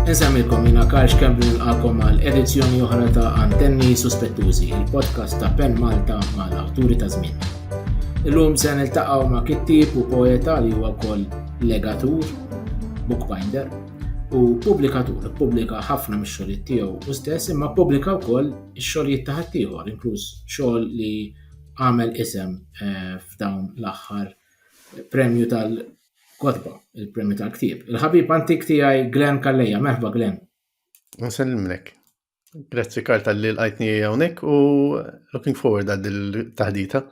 Insemilkom jina Karl Xkembri nilqakom għal edizzjoni oħra ta' Antenni Suspettużi, il-podcast ta' Pen Malta mal awturi ta' żmien. Illum se niltaqgħu ma' kittib u poeta li huwa wkoll legatur, bookbinder, u pubblikatur, pubblika ħafna mix-xogħlijiet tiegħu u stess imma pubblika wkoll ix-xogħlijiet ta' ħaddieħor, inkluż xogħol li għamel isem eh, f'dawn l-aħħar premju tal-kotba, il-premju tal-ktib. Il-ħabib antik tiegħi Glenn Kalleja, merħba Glenn. Nsellimlek. Grazzi Karl tal-li l-għajtni hawnhekk u looking forward għad il-taħdita.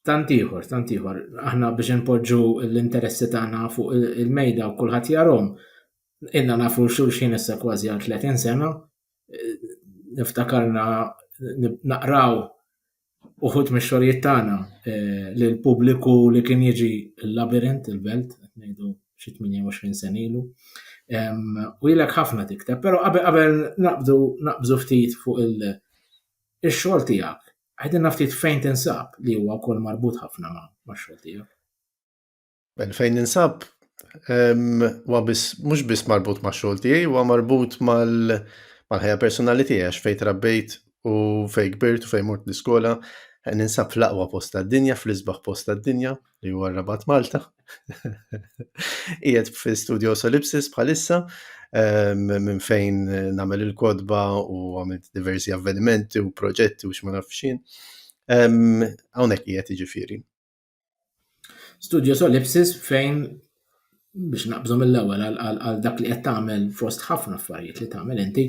Tantiħor, tantiħor. Aħna biex npoġġu l-interessi tagħna fuq il-mejda u kulħadd jarhom. Inna nafu xulxin issa kważi għal 30 sena. Niftakarna naqraw uħud mix-xogħlijiet tagħna eh, lil pubbliku li kien jiġi l-labirint il-belt, ngħidu xi 28 sen ilu. U jilek ħafna tikteb, però qabel naqbdu naqbżu ftit fuq il-xogħol tiegħek, ħedin ftit fejn tinsab li huwa wkoll marbut ħafna ma' xogħol tiegħek. Mela, fejn ninsab huwa biss mhux biss marbut ma' xogħol tiegħi, huwa marbut mal-ħajja personali tiegħi għax fejn trabbejt u fejn kbirt u fejn mort l-iskola eh, ninsab fl-aqwa post tad-dinja, fl-isbaħ post tad-dinja li huwa rabat Malta. Qiegħed fi studio Solipsis bħalissa minn fejn nagħmel il-kodba u għamilt diversi avvenimenti u proġetti u x'ma nafxin. Hawnhekk qiegħed jiġifieri. Studio Solipsis fejn biex naqbżu mill-ewwel għal dak li qed tagħmel fost ħafna affarijiet li tagħmel inti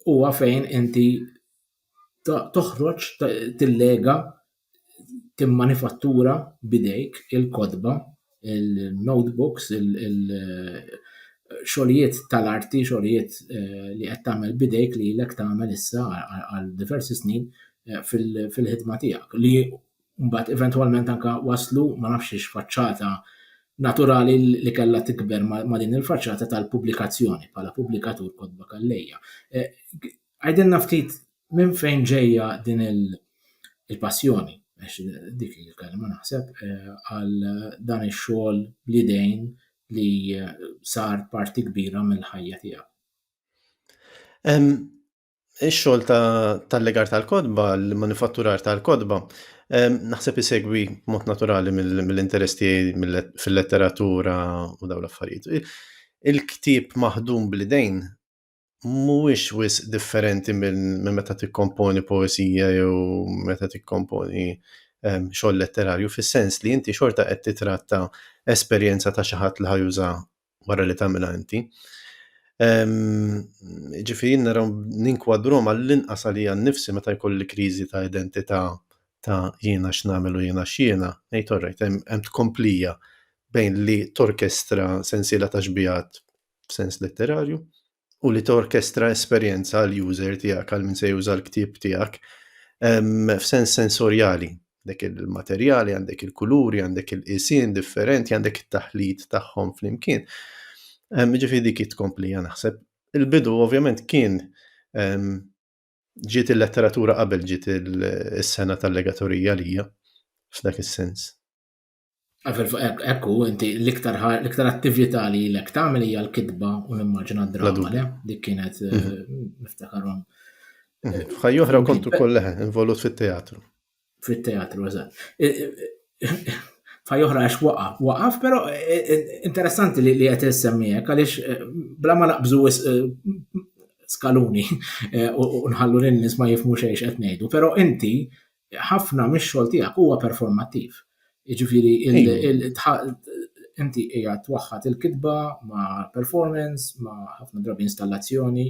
huwa fejn inti toħroġ tillega timmanifattura bidejk il-kotba, il-notebooks, xogħlijiet tal-arti, xogħlijiet eh, li qed tagħmel bidejk li lek tagħmel issa għal diversi snin eh, fil-ħidma tiegħek li Mbagħad eventwalment anke waslu ma nafx hiex faċċata naturali li kellha tikber ma' din il-faċċata tal-pubblikazzjoni bħala pubblikatur kotba Kallejja. Eh, għajdilna ftit minn fejn ġejja din il-passjoni, għax dik il-kelma naħseb, eh, għal dan ix-xogħol bl-idejn li eh, sar parti kbira mill-ħajja tiegħek. Ix-xogħol ta' tal-legar tal-kotba, l-manifatturar tal-kotba, ehm, naħseb isegwi mod naturali mill-interess tiegħi fil-letteratura u dawn l-affarijiet. Il-ktieb maħdum bl-idejn mhuwiex wis differenti minn meta tikkomponi poesija jew meta tikkomponi ehm, xogħol letterarju, fis-sens li inti xorta qed titratta esperjenza ta' xi ħadd li ħajuża wara li tagħmilha inti. Ġifieri naraw ninkwadrom għall-inqas għalija nnifsi meta jkolli kriżi ta' identità ta' jiena x'nagħmel u jiena x'jiena, ngħid all right, hemm tkomplija bejn li torkestra sensiela ta' xbiehat f'sens letterarju, u li torkestra esperjenza għal user tiegħek għal min se juża l-ktieb tiegħek f'sens sensorjali. Għandek il-materjali, għandek il-kuluri, għandek il-qisien differenti, għandek it-taħlit tagħhom flimkien. Ġifieri dik tkompli naħseb. Il-bidu ovvjament kien ġiet il-letteratura qabel ġiet is-sena tal-legatorija lija f'dak is-sens. Hekk hu inti l-iktar l-iktar attività li l tagħmel hija l-kitba u nimmaġina d-drama le dik kienet eh, mhm. niftakarhom. Mhm. F'ħaj oħra kont ukoll leħe involut fit-teatru. Fit-teatru, eżatt. F'ħaj oħra għax waqaf, waqaf, però eh, eh, interessanti li qed issemmijek għaliex bla ma naqbżu skaluni u nħallu lin-nies ma jifmu xejn qed ngħidu, però inti ħafna mix-xogħol tiegħek huwa performattiv. Jiġifieri inti hija twaħħad il-kitba ma' performance, ma' ħafna drabi installazzjoni,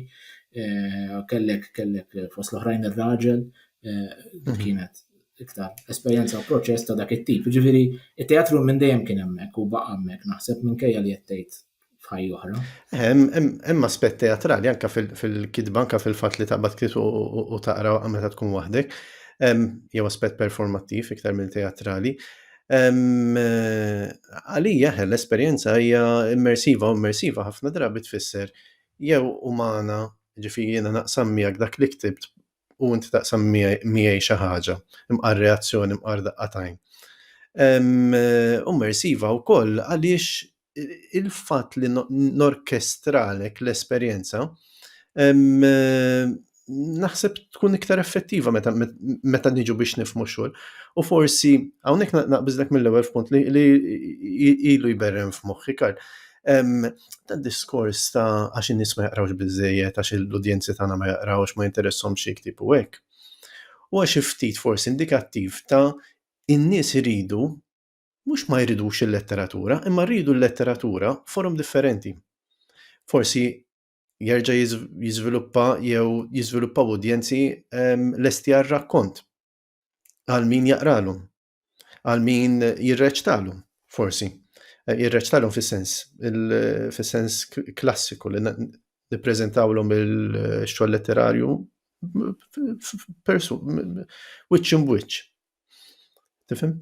eh, kellek kellek eh, fost l-oħrajn ir-raġel eh, mhm. kienet iktar esperjenza u proċess ta' dak it-tip. Ġifieri, it-teatru minn dejjem kien hemmhekk u baqa' hemmhekk naħseb minkejja li qed tgħid f'ħaj oħra. Hemm aspett teatrali anke fil-kitba, anke fil-fatt li taqbad ktiet u taqra meta tkun waħdek, jew aspett performattiv iktar minn teatrali. Għalija l-esperjenza hija immersiva u immersiva ħafna drabi tfisser jew umana, ġifieri jiena naqsam miegħek dak li ktibt u inti taqsam miegħi xi ħaġa, imqar reazzjoni, imqar daqqa t'għajn. Immersiva wkoll għaliex il-fatt li norkestralek l-esperjenza naħseb tkun iktar effettiva meta, meta niġu biex nifmu xogħol. U forsi hawnhekk naqbiżlek mill-ewwel f'punt li, li ilu jberrem f'moħħi kar. Dan diskors ta' għax in-nies ma jaqrawx biżejjed, għax l-udjenzi tagħna ma jaqrawx, ma jinteressahom xi ktib u hekk. Huwa xi ftit forsi indikattiv ta' in-nies iridu Mhux ma jridux il-letteratura, imma rridu l-letteratura forum differenti. Forsi jerġa' jiżviluppa jew jiżviluppaw udjenzi ehm, lesti għal rakkont għal min jaqralhom, għal min jirreċtalhom, forsi. Eh, jirreċtalhom fis-sens, fis-sens klassiku li nippreżentawlhom il-xogħol letterarju persu, wiċċ imbwiċċ. Tifhem?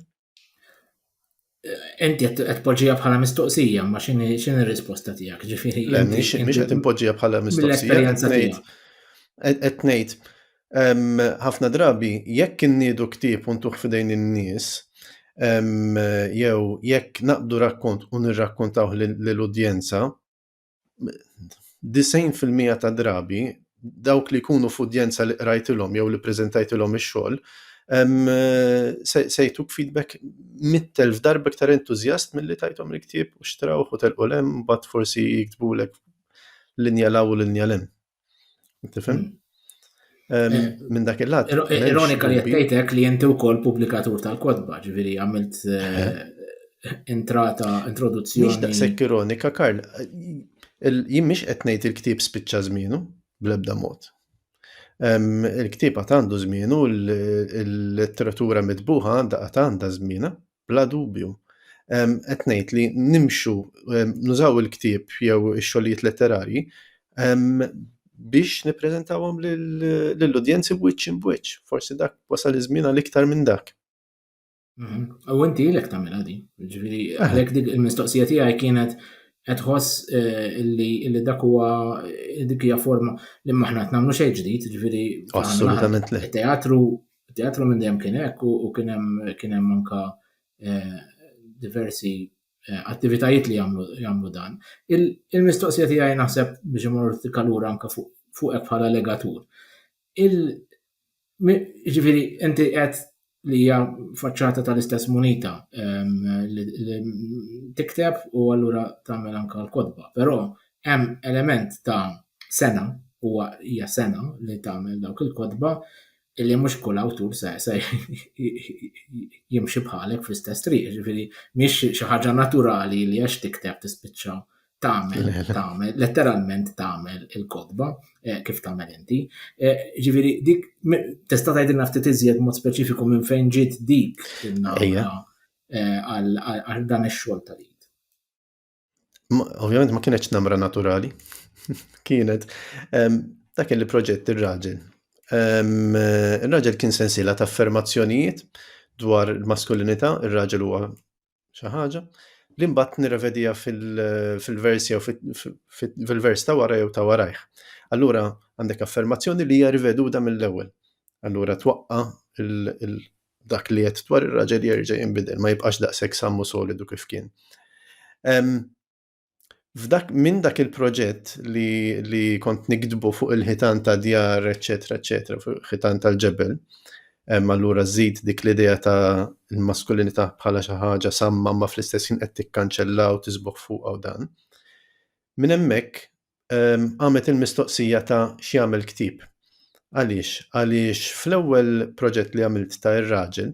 Enti qed poġġija bħala mistoqsija, ma x'inhi r-risposta tiegħek? Ġifieri. Le, mhix qed impoġġija bħala mistoqsija. Qed ngħid ħafna drabi jekk inniedu ktieb u ntuħ f'idejn in-nies jew jekk naqbdu rakkont u nirrakkontawh lill-udjenza, 90 fil-mija ta' drabi dawk li jkunu f'udjenza li qrajtilhom jew li preżentajtilhom ix-xogħol se jtuk feedback mit-telf darba iktar entużjast milli tajthom il-ktieb u xtrawh u telqu l-hemm mbagħad forsi jiktbulek linja law u linja lem. Tifhem? Eh, minn dak il-lat. Ironika li jtejtek li jinti u kol publikatur tal-kodba, ġviri għamilt eh, entrata, introduzzjoni. Mix daqsek ironika, Karl, jien mix etnejt il-ktib spiċċa zminu, blebda mod. Il-ktib għat għandu zminu, l-letteratura mitbuħa għanda għat għanda zmina, Bla dubju. Qed ngħid li nimxu nużaw il-ktieb jew ix-xogħlijiet letterarji biex nippreżentawhom lill-udjenzi wiċċ imb'wiċċ. Forsi dak wasal iż-żmien għal iktar minn dak. U inti ilek tagħmilha din. Ġifieri għalhekk dik il-mistoqsija tiegħi kienet qed ħoss eh, li dak huwa dik hija forma li maħna qed nagħmlu xejn ġdid, ġifieri assolutament le. Teatru Teatru minn dejjem kien hekk u kien hemm kien hemm anka diversi attivitajiet li jagħmlu jagħmlu dan. Il-mistoqsija tiegħi naħseb biex imorru ftit kalura anka fuq fuqek bħala legatur. Il ġifieri inti qed li hija faċċata tal-istess munita li tikteb u allura tagħmel anka l-kotba, però hemm element ta' sena huwa hija sena li tagħmel dawk il-kotba illi mhux kull awtur se jimxi bħalek fl-istess triq, ġifiri, miex xi ħaġa naturali li għax tikteb tispiċċa tagħmel, tagħmel, letteralment tagħmel il-kodba eh, kif tagħmel inti. Eh, ġifiri, dik tista' tgħidilna ftit iżjed mod speċifiku minn fejn ġiet dik il-nawra eh, għal dan ix-xogħol tal-id. Ovvjament ma kienetx namra naturali, kienet dak li proġett ir-raġel. Ir-raġel kien sensiela ta' affermazzjonijiet dwar il-maskulinità, ir-raġel huwa xi ħaġa, li mbagħad nirrevedija fil-vers jew fil-vers ta' wara jew ta' warajh. Allura għandek affermazzjoni li hija riveduta mill-ewwel. Allura twaqqa' dak li qed dwar ir-raġel jerġa' jinbidel, ma jibqax daqshekk sam u solidu kif kien. F'dak minn dak il-proġett li, li kont nikdbu fuq il-ħitan ta' djar, eċetera, eċetera, fuq il-ħitan tal-ġebel, allura żid dik l-idea ta' l-maskulinità bħala xi ħaġa samma ma fl-istess ħin qed tikkanċella u tisbuħ fuq u dan. Minn hemmhekk qamet il-mistoqsija ta' x'jagħmel ktieb. Għaliex? Għaliex fl-ewwel proġett li għamilt ta' ir-raġel,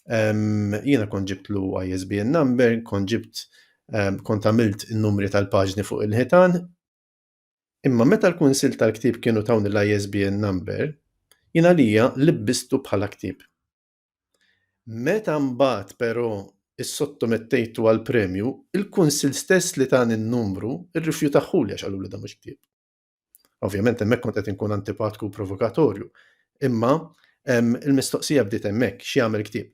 jiena kont ġibtlu ISBN number, kont ġibt kont għamilt in-numri tal-paġni fuq il-ħitan, imma meta l-kunsil tal-ktieb kienu tawni l-ISBN number, jiena lija libbistu bħala ktieb. Meta mbagħad però issottomettejtu għall-premju, il-Kunsill stess li tani n-numru rrifjutahuli għax qaluli dan mhux ktieb. Ovvjament hemmhekk kont qed inkun antipatku u provokatorju, imma ehm, il-mistoqsija bdiet hemmhekk x'jagħmel ktieb.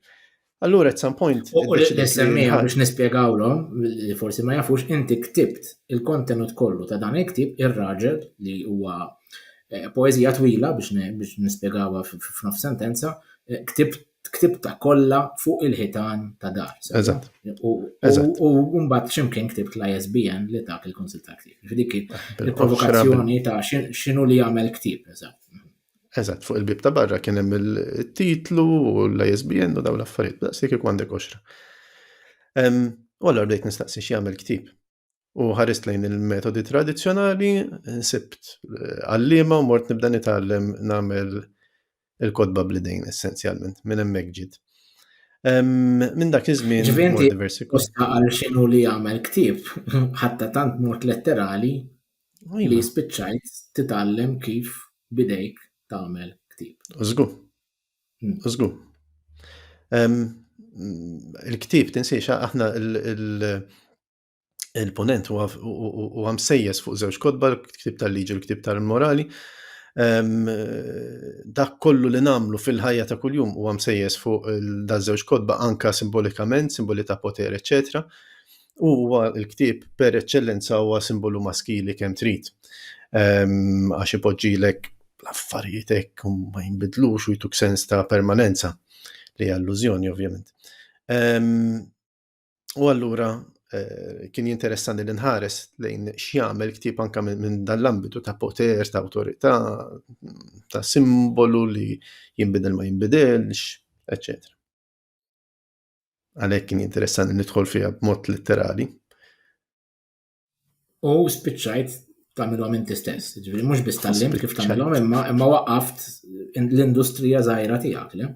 Allura at some point. U l-SME biex nispjegawlhom li forsi ma jafux inti ktibt il-kontenut kollu ta' dan il-ktib ir-raġel li huwa Eh, poezija twila biex nispjegawha f'nof sentenza, eh, ktibta kollha fuq il-ħitan ta' dar. Eżatt. U mbagħad ximkien ktibt l-ISBN li dak il-konsil ta' ktib. Dik ah, il-provokazzjoni ta' x'inhu li jagħmel ktib, eżatt. Eżatt, fuq il-bib ta' barra kien hemm il-titlu u l-ISBN u dawn l-affarijiet, daqs li kieku għandek oxra. U allura bdejt nistaqsi x'jagħmel ktib. u ħarist lejn il-metodi tradizzjonali, nsibt eh, għallima u mort nibda nitgħallem nagħmel il-kodba bl-idejn essenzjalment minn hemmhekk ġid. Minn dak iż-żmien ġifieri diversi kosta għal xinu li jagħmel ktieb, ħatta tant mort letterali li iva. spiċċajt titgħallem kif bidejk tagħmel ktieb. Żgur. Użgu. Il-ktib tinsiex aħna il-ponent u għamsejjes fuq żewġ kodba, l-ktib tal-liġi u l-ktib tal-morali. Dak kollu li namlu fil-ħajja ta' kuljum u għamsejjes fuq da' żewġ kodba anka simbolikament, simboli ta' poter, eccetera u huwa l-ktieb per eċċellenza huwa simbolu maskili kemm trid. Ehm, għax ipoġġilek l-affarijiet hekk ma jinbidlux u jtuk sens ta' permanenza li allużjoni ovvjament. Ehm, u allura eh, kien jinteressani li nħares lejn x'jagħmel ktieb anka minn dan l-ambitu ta' poter, ta' awtorità, ta' simbolu li jinbidel ma jinbidelx, eccetera. Għalhekk kien interessanti nidħol fiha b'mod litterali. U spiċċajt tagħmilhom inti stess. Ġifieri mhux biss tallim kif tagħmilhom imma imma waqaft l-industrija żgħira tiegħek, le?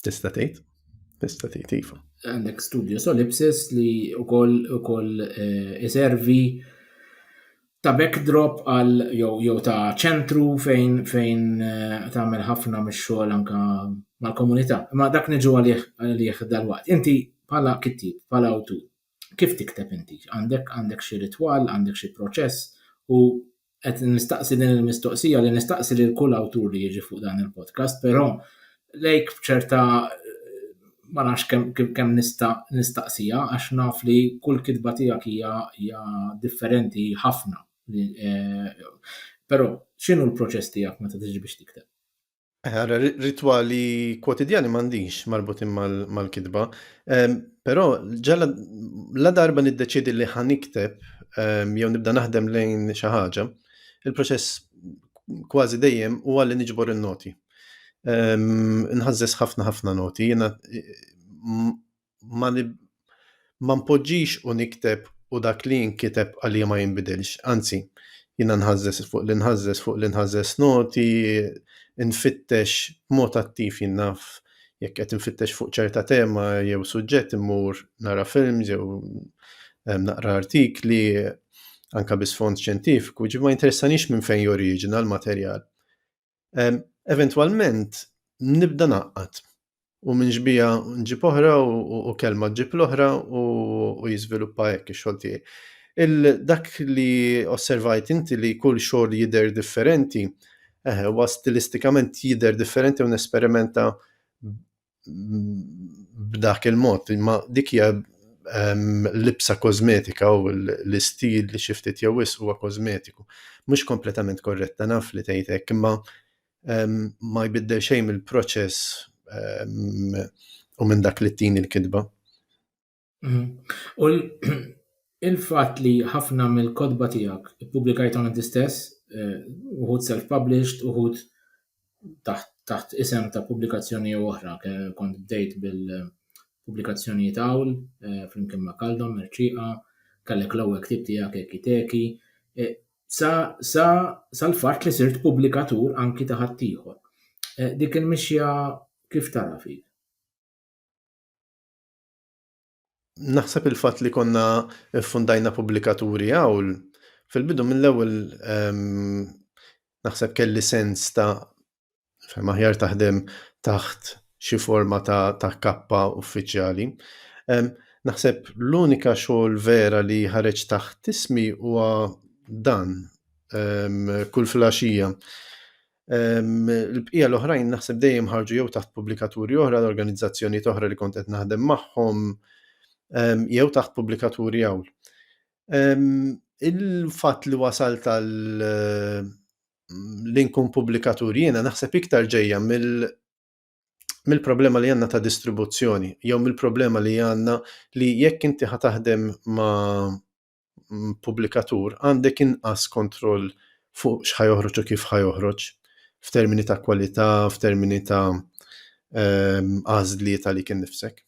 Tista' tgħid? Tista' tgħid iva. Għandek studio Solipsis li wkoll ukoll eh, iservi ta' backdrop għal jew ta' ċentru fejn fejn eh, tagħmel ħafna mix-xogħol anka mal-komunità. Ma dak niġu għalih għalih dal-waqt. Inti bħala kittib, bħala awtur, kif tikteb inti? Għandek għandek xi ritwal, għandek xi proċess u qed nistaqsi din il-mistoqsija li nistaqsi lil kull awtur li jiġi fuq dan il-podcast, però lejk b'ċerta ma nafx kemm kem nista' nistaqsija għax naf li kull kitba tiegħek hija differenti ħafna. Eh, però x'inhu l-proċess tiegħek meta tiġi biex tikteb? Għara, eh, ritwali kwotidjani mandiġ marbutin mal-kitba, ehm, pero ġalla la darba niddeċidi li ħanikteb ehm, jew nibda naħdem lejn xi ħaġa, il-proċess kważi dejjem u għalli niġbor il-noti. Nħazzes ħafna ħafna noti, jena ma npoġġix u nikteb u dak li nkiteb għalija ma jinbidilx. Anzi, jena nħazzes fuq li nħazzes fuq li nħazzes noti, nfittex mod attiv jinnaf jekk qed nfittex fuq ċerta tema jew suġġett immur nara film jew naqra artikli anka bisfond ċentifiku, ġi ma interessanix minn fejn joriġina l-materjal eventwalment nibda naqqat u minn ġbija nġib oħra u kelma ġib l-oħra u jiżviluppa hekk ix-xogħol tiegħi. Il-dak li osservajt inti li kull xogħol jidher differenti, eħe, huwa stilistikament jidher differenti u nesperimenta b'dak il-mod, imma dik hija ehm, libsa kosmetika u l-istil li xi ftit jew wis huwa kosmetiku. Mhux kompletament korretta naf li tgħid hekk, imma ehm, ma jbiddel xejn mill-proċess ehm, u minn dak li tini l-kitba. Mhm. U l- il-fatt li ħafna mill-kotba tiegħek ippubblikajthom inti stess, eh, uħud self-published, uħud taħt, taħt isem ta' pubblikazzjoni jew oħra, ke- kont bdejt bil-pubblikazzjonijiet hawn, eh, flimkien ma' Kaldom, Merċiqa, kellek l-ewwel ktieb tiegħek Eki Teki, eh, sa, sa, sal-fatt li sirt pubblikatur anki ta' ħaddieħor. Eh, dik il-mixja kif tara fik? Naħseb il-fatt li konna ffundajna pubblikaturi hawn fil-bidu mill-ewwel ehm, naħseb kelli sens ta' fem aħjar taħdem taħt xi forma ta', ta kappa uffiċjali. Ehm, naħseb l-unika xogħol vera li ħareġ taħt ismi huwa dan ehm, kull flaxija. Il-bqija l-oħrajn naħseb dejjem ħarġu jew taħt pubblikaturi oħra, organizzazzjonijiet oħra li kont qed naħdem magħhom, jew taħt pubblikaturi hawn. Il-fatt li wasal tal li nkun pubblikatur jiena naħseb iktar ġejja mill-problema li għandna ta' distribuzzjoni jew mill-problema li għandna li jekk inti ħa taħdem ma' mm, pubblikatur għandek inqas kontroll fuq x'ħajoħroġ u kif ħajoħroġ f'termini ta' kwalità, f'termini ta' ehm, għażliet għalik innifsek.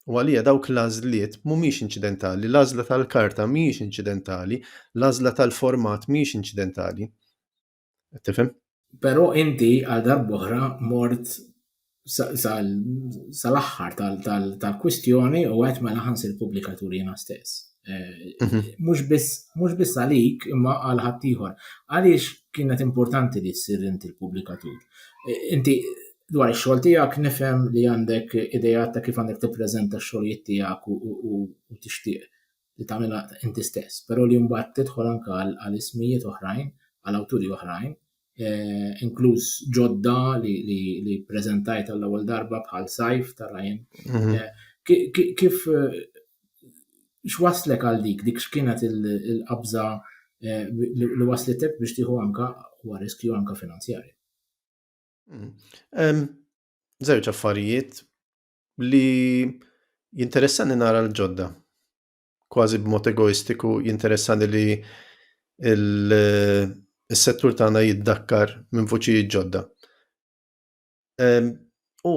U għalija dawk l-għażliet mhumiex inċidentali, l-għażla tal-karta mhijiex inċidentali, l-għażla tal-format mhijiex inċidentali. Qed tifhem? Però inti għal darb'oħra mort sal-aħħar tal-kwistjoni u għed mela ħansir pubblikatur jiena stess. Eh, mhm. Mhux biss għalik imma għal ħaddieħor. Għaliex kienet importanti li ssir inti l-pubblikatur. Eh, inti dwar ix-xogħol tiegħek nifhem li għandek idea ta' kif għandek tippreżenta x-xogħlijiet tiegħek u tixtieq li tagħmilha inti stess, però li mbagħad tidħol anke għal ismijiet oħrajn, għal awturi oħrajn, eh, inkluż ġodda li, li, li preżentajt għall-ewwel darba bħal Sajf ta' Ryan. Mhm. Eh, kif eh, x'waslek għal dik, dik x'kienet il-qabża eh, li waslitek biex tieħu anka huwa riskju anka finanzjarju. Zewġ mm. affarijiet li jinteressani nara l-ġodda. Kważi b'mod egoistiku jinteressani li il-settur tagħna jiddakkar minn vuċijiet ġodda. U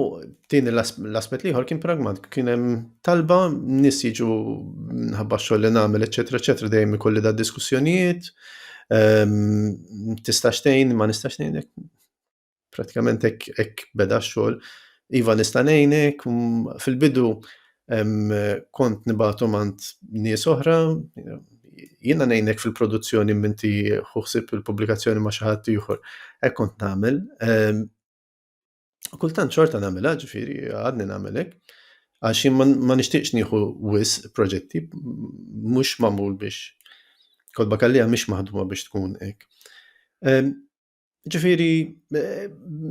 tieni l-aspett liħor kien pragmat, kien hemm talba nis jiġu nħabba xogħol li nagħmel, eċetera, eċetera, dejjem ikolli da diskussjonijiet, tistax tgħin, ma nistax tgħinek. Pratikament hekk hekk beda x-xogħol. Iva nista' ngħinek, mm, fil-bidu em, kont nibatu mant nies oħra, jiena ngħinek fil-produzzjoni minti ħuħsib il-pubblikazzjoni ma' xi ħadd ieħor. Hekk kont nagħmel. Em, u kultant xorta nagħmilha, ġifieri għadni nagħmel hekk. Għax jien ma- ma nixtieqx nieħu wis proġetti, m- mhux magħmul biex. Kodba kallija mhix maħduma biex tkun hekk. Em, Ġifiri,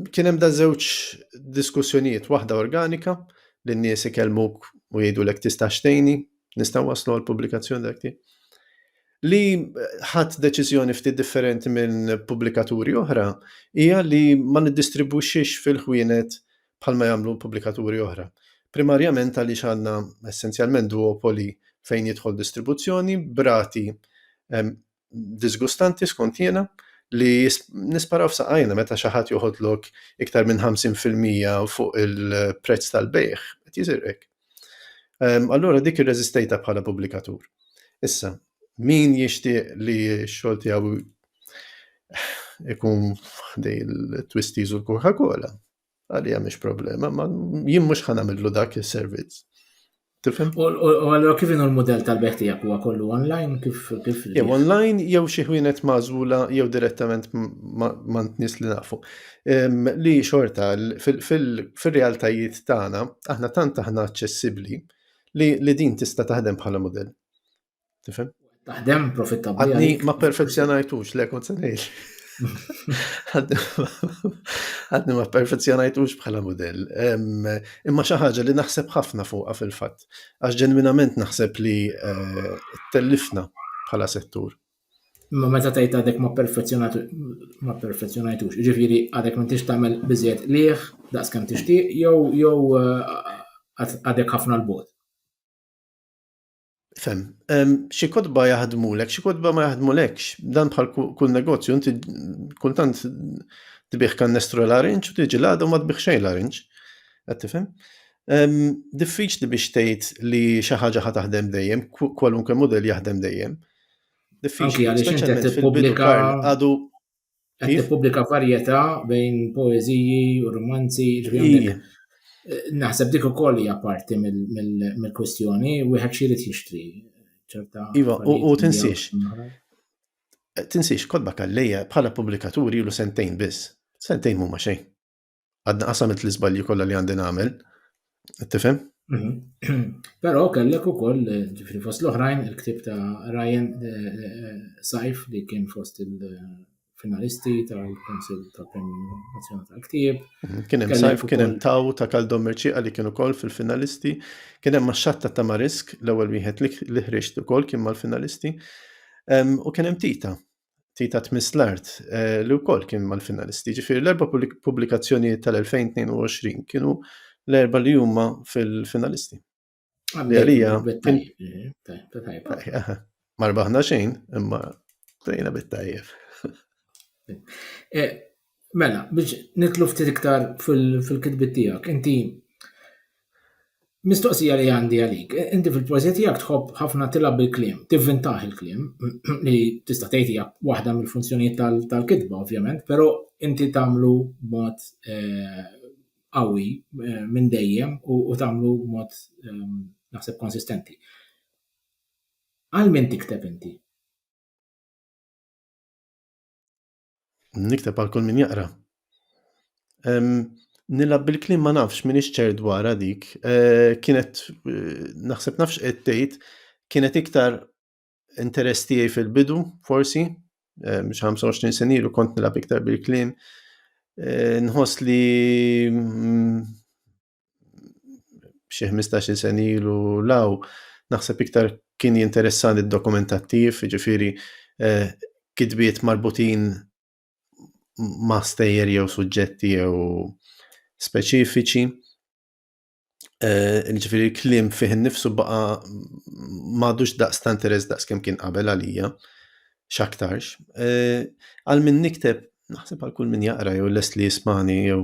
kien hemm da żewġ diskussjonijiet, waħda organika, li n-nies ikellmuk u jgħidu l tista' xtejni, nista' waslu għal pubblikazzjoni dak li ħadd deċiżjoni ftit differenti minn pubblikaturi oħra hija li ma niddistribwixxix fil-ħwienet bħalma jagħmlu pubblikaturi oħra. Primarjament għaliex għandna essenzjalment duopoli fejn jidħol distribuzzjoni brati disgustanti skont jiena li nisparaw f'saqajna meta xi ħadd joħodlok iktar minn 50% fuq il-prezz tal-bejħ, qed jiżirqek. Ehm, allura dik irreżistejta bħala pubblikatur. Issa, min jixtieq li x-xogħol tiegħu ikun ħdej il-twisties u l-Coca-Cola? Għalija mhix problema, ma jien mhux ħanamillu dak is-servizz. Tifhem? U allura kif inhu l-mudell tal-beħ tiegħek huwa kollu online kif kif Jew online jew xi ħwienet magħżula jew direttament ma' nies li nafu. Li xorta fil-realtajiet tagħna aħna tant aħna aċċessibbli li din tista' taħdem bħala mudell. Tifhem? Taħdem profittabbli. Għadni ma perfezzjonajtux, le kont se ngħid. Għadni ma perfezzjonajtux bħala modell. Imma xi ħaġa li naħseb ħafna fuqha fil-fatt. Għax ġenwinament naħseb li eh, tellifna bħala settur. Imma meta tgħid għadek ma perfezzjonajtux, ġifieri għadek ma tix tagħmel biżjed liħ daqs kemm tixtieq jew jew eh, għadek ħafna l-bot. Fem, xi kodba jaħdmulek, xi kodba ma jaħdmulekx. Dan bħal kull negozju, inti kultant tbieħ kannestru l-arinċ u tiġi l-għadu ma tbieħ xejn l-arinċ. Qed tifhem? Diffiċli biex tgħid li xi ħaġa ħa taħdem dejjem, kwalunkwe mudell jaħdem dejjem. Diffiċli, speċjalment fil-bidu għadu Qed tippubblika varjetà bejn poeżiji u romanzi, ġifieri naħseb dik ukoll hija parti mill-kwistjoni, wieħed xi jrid jixtri. Iva, u tinsiex. Tinsiex, kodba kallejja bħala pubblikaturi ilu sentejn biss. Sentejn mhuma xejn. Għadna qasamilt l-iżbalji kollha li għandi nagħmel. Tifhem? Mhm. Però kellek ukoll ġifri fost l-oħrajn il-ktib ta' Ryan eh, eh, Saif li kien fost il-finalisti tal-Konsil tal-Premju Nazzjonali tal-Ktib. Mhm. Kien hemm Saif, kien hemm Taw ta' Kaldom Merċiqa li kien ukoll fil-finalisti. Kien hemm Maxxatta ta' Marisk l-ewwel wieħed li ħriġt ukoll kien mal-finalisti. U kien hemm Tita Tita tmiss l-art eh, li wkoll kien mal-finalisti. Ġifieri l-erba' pubblikazzjonijiet tal-2022 kienu l-erba' li huma fil-finalisti. Li għalija. Marbaħna xejn, imma tajna bit-tajjeb. Eh, Mela, biex nitlu ftit iktar fil-kitbit tiegħek, inti mistoqsija li għandi għalik, inti fil-poeżija tiegħek tħobb ħafna tilgħab bil-kliem, tivvintaħ il-kliem, li tista' tgħid hija waħda mill-funzjonijiet tal-kitba ovvjament, però inti tagħmlu b'mod eh, qawwi eh, minn dejjem u tagħmlu b'mod eh, naħseb konsistenti. Għal min tikteb inti? Nikteb għal kull min jaqra. Nilab bil-klim ma nafx min ċer dwarha dik. Eh, kienet eh, naħseb nafx qed tgħid kienet iktar interess tiegħi fil-bidu, forsi, eh, biex 25 sen ilu kont nilab iktar bil-klim. Nħoss li mm, xi 15 sen ilu law, naħseb iktar kien jinteressani d-dokumentattiv, ġifiri eh, kitbiet marbutin ma' stejjer jew suġġetti jew speċifiċi. Eh, ġifiri l-klim fih nifsu baqa madux daqs ta' interess daqs kem kien qabel għalija, xaktarx. Eh, għal min nikteb, naħseb għal kull min jaqra jew lest li jismani jew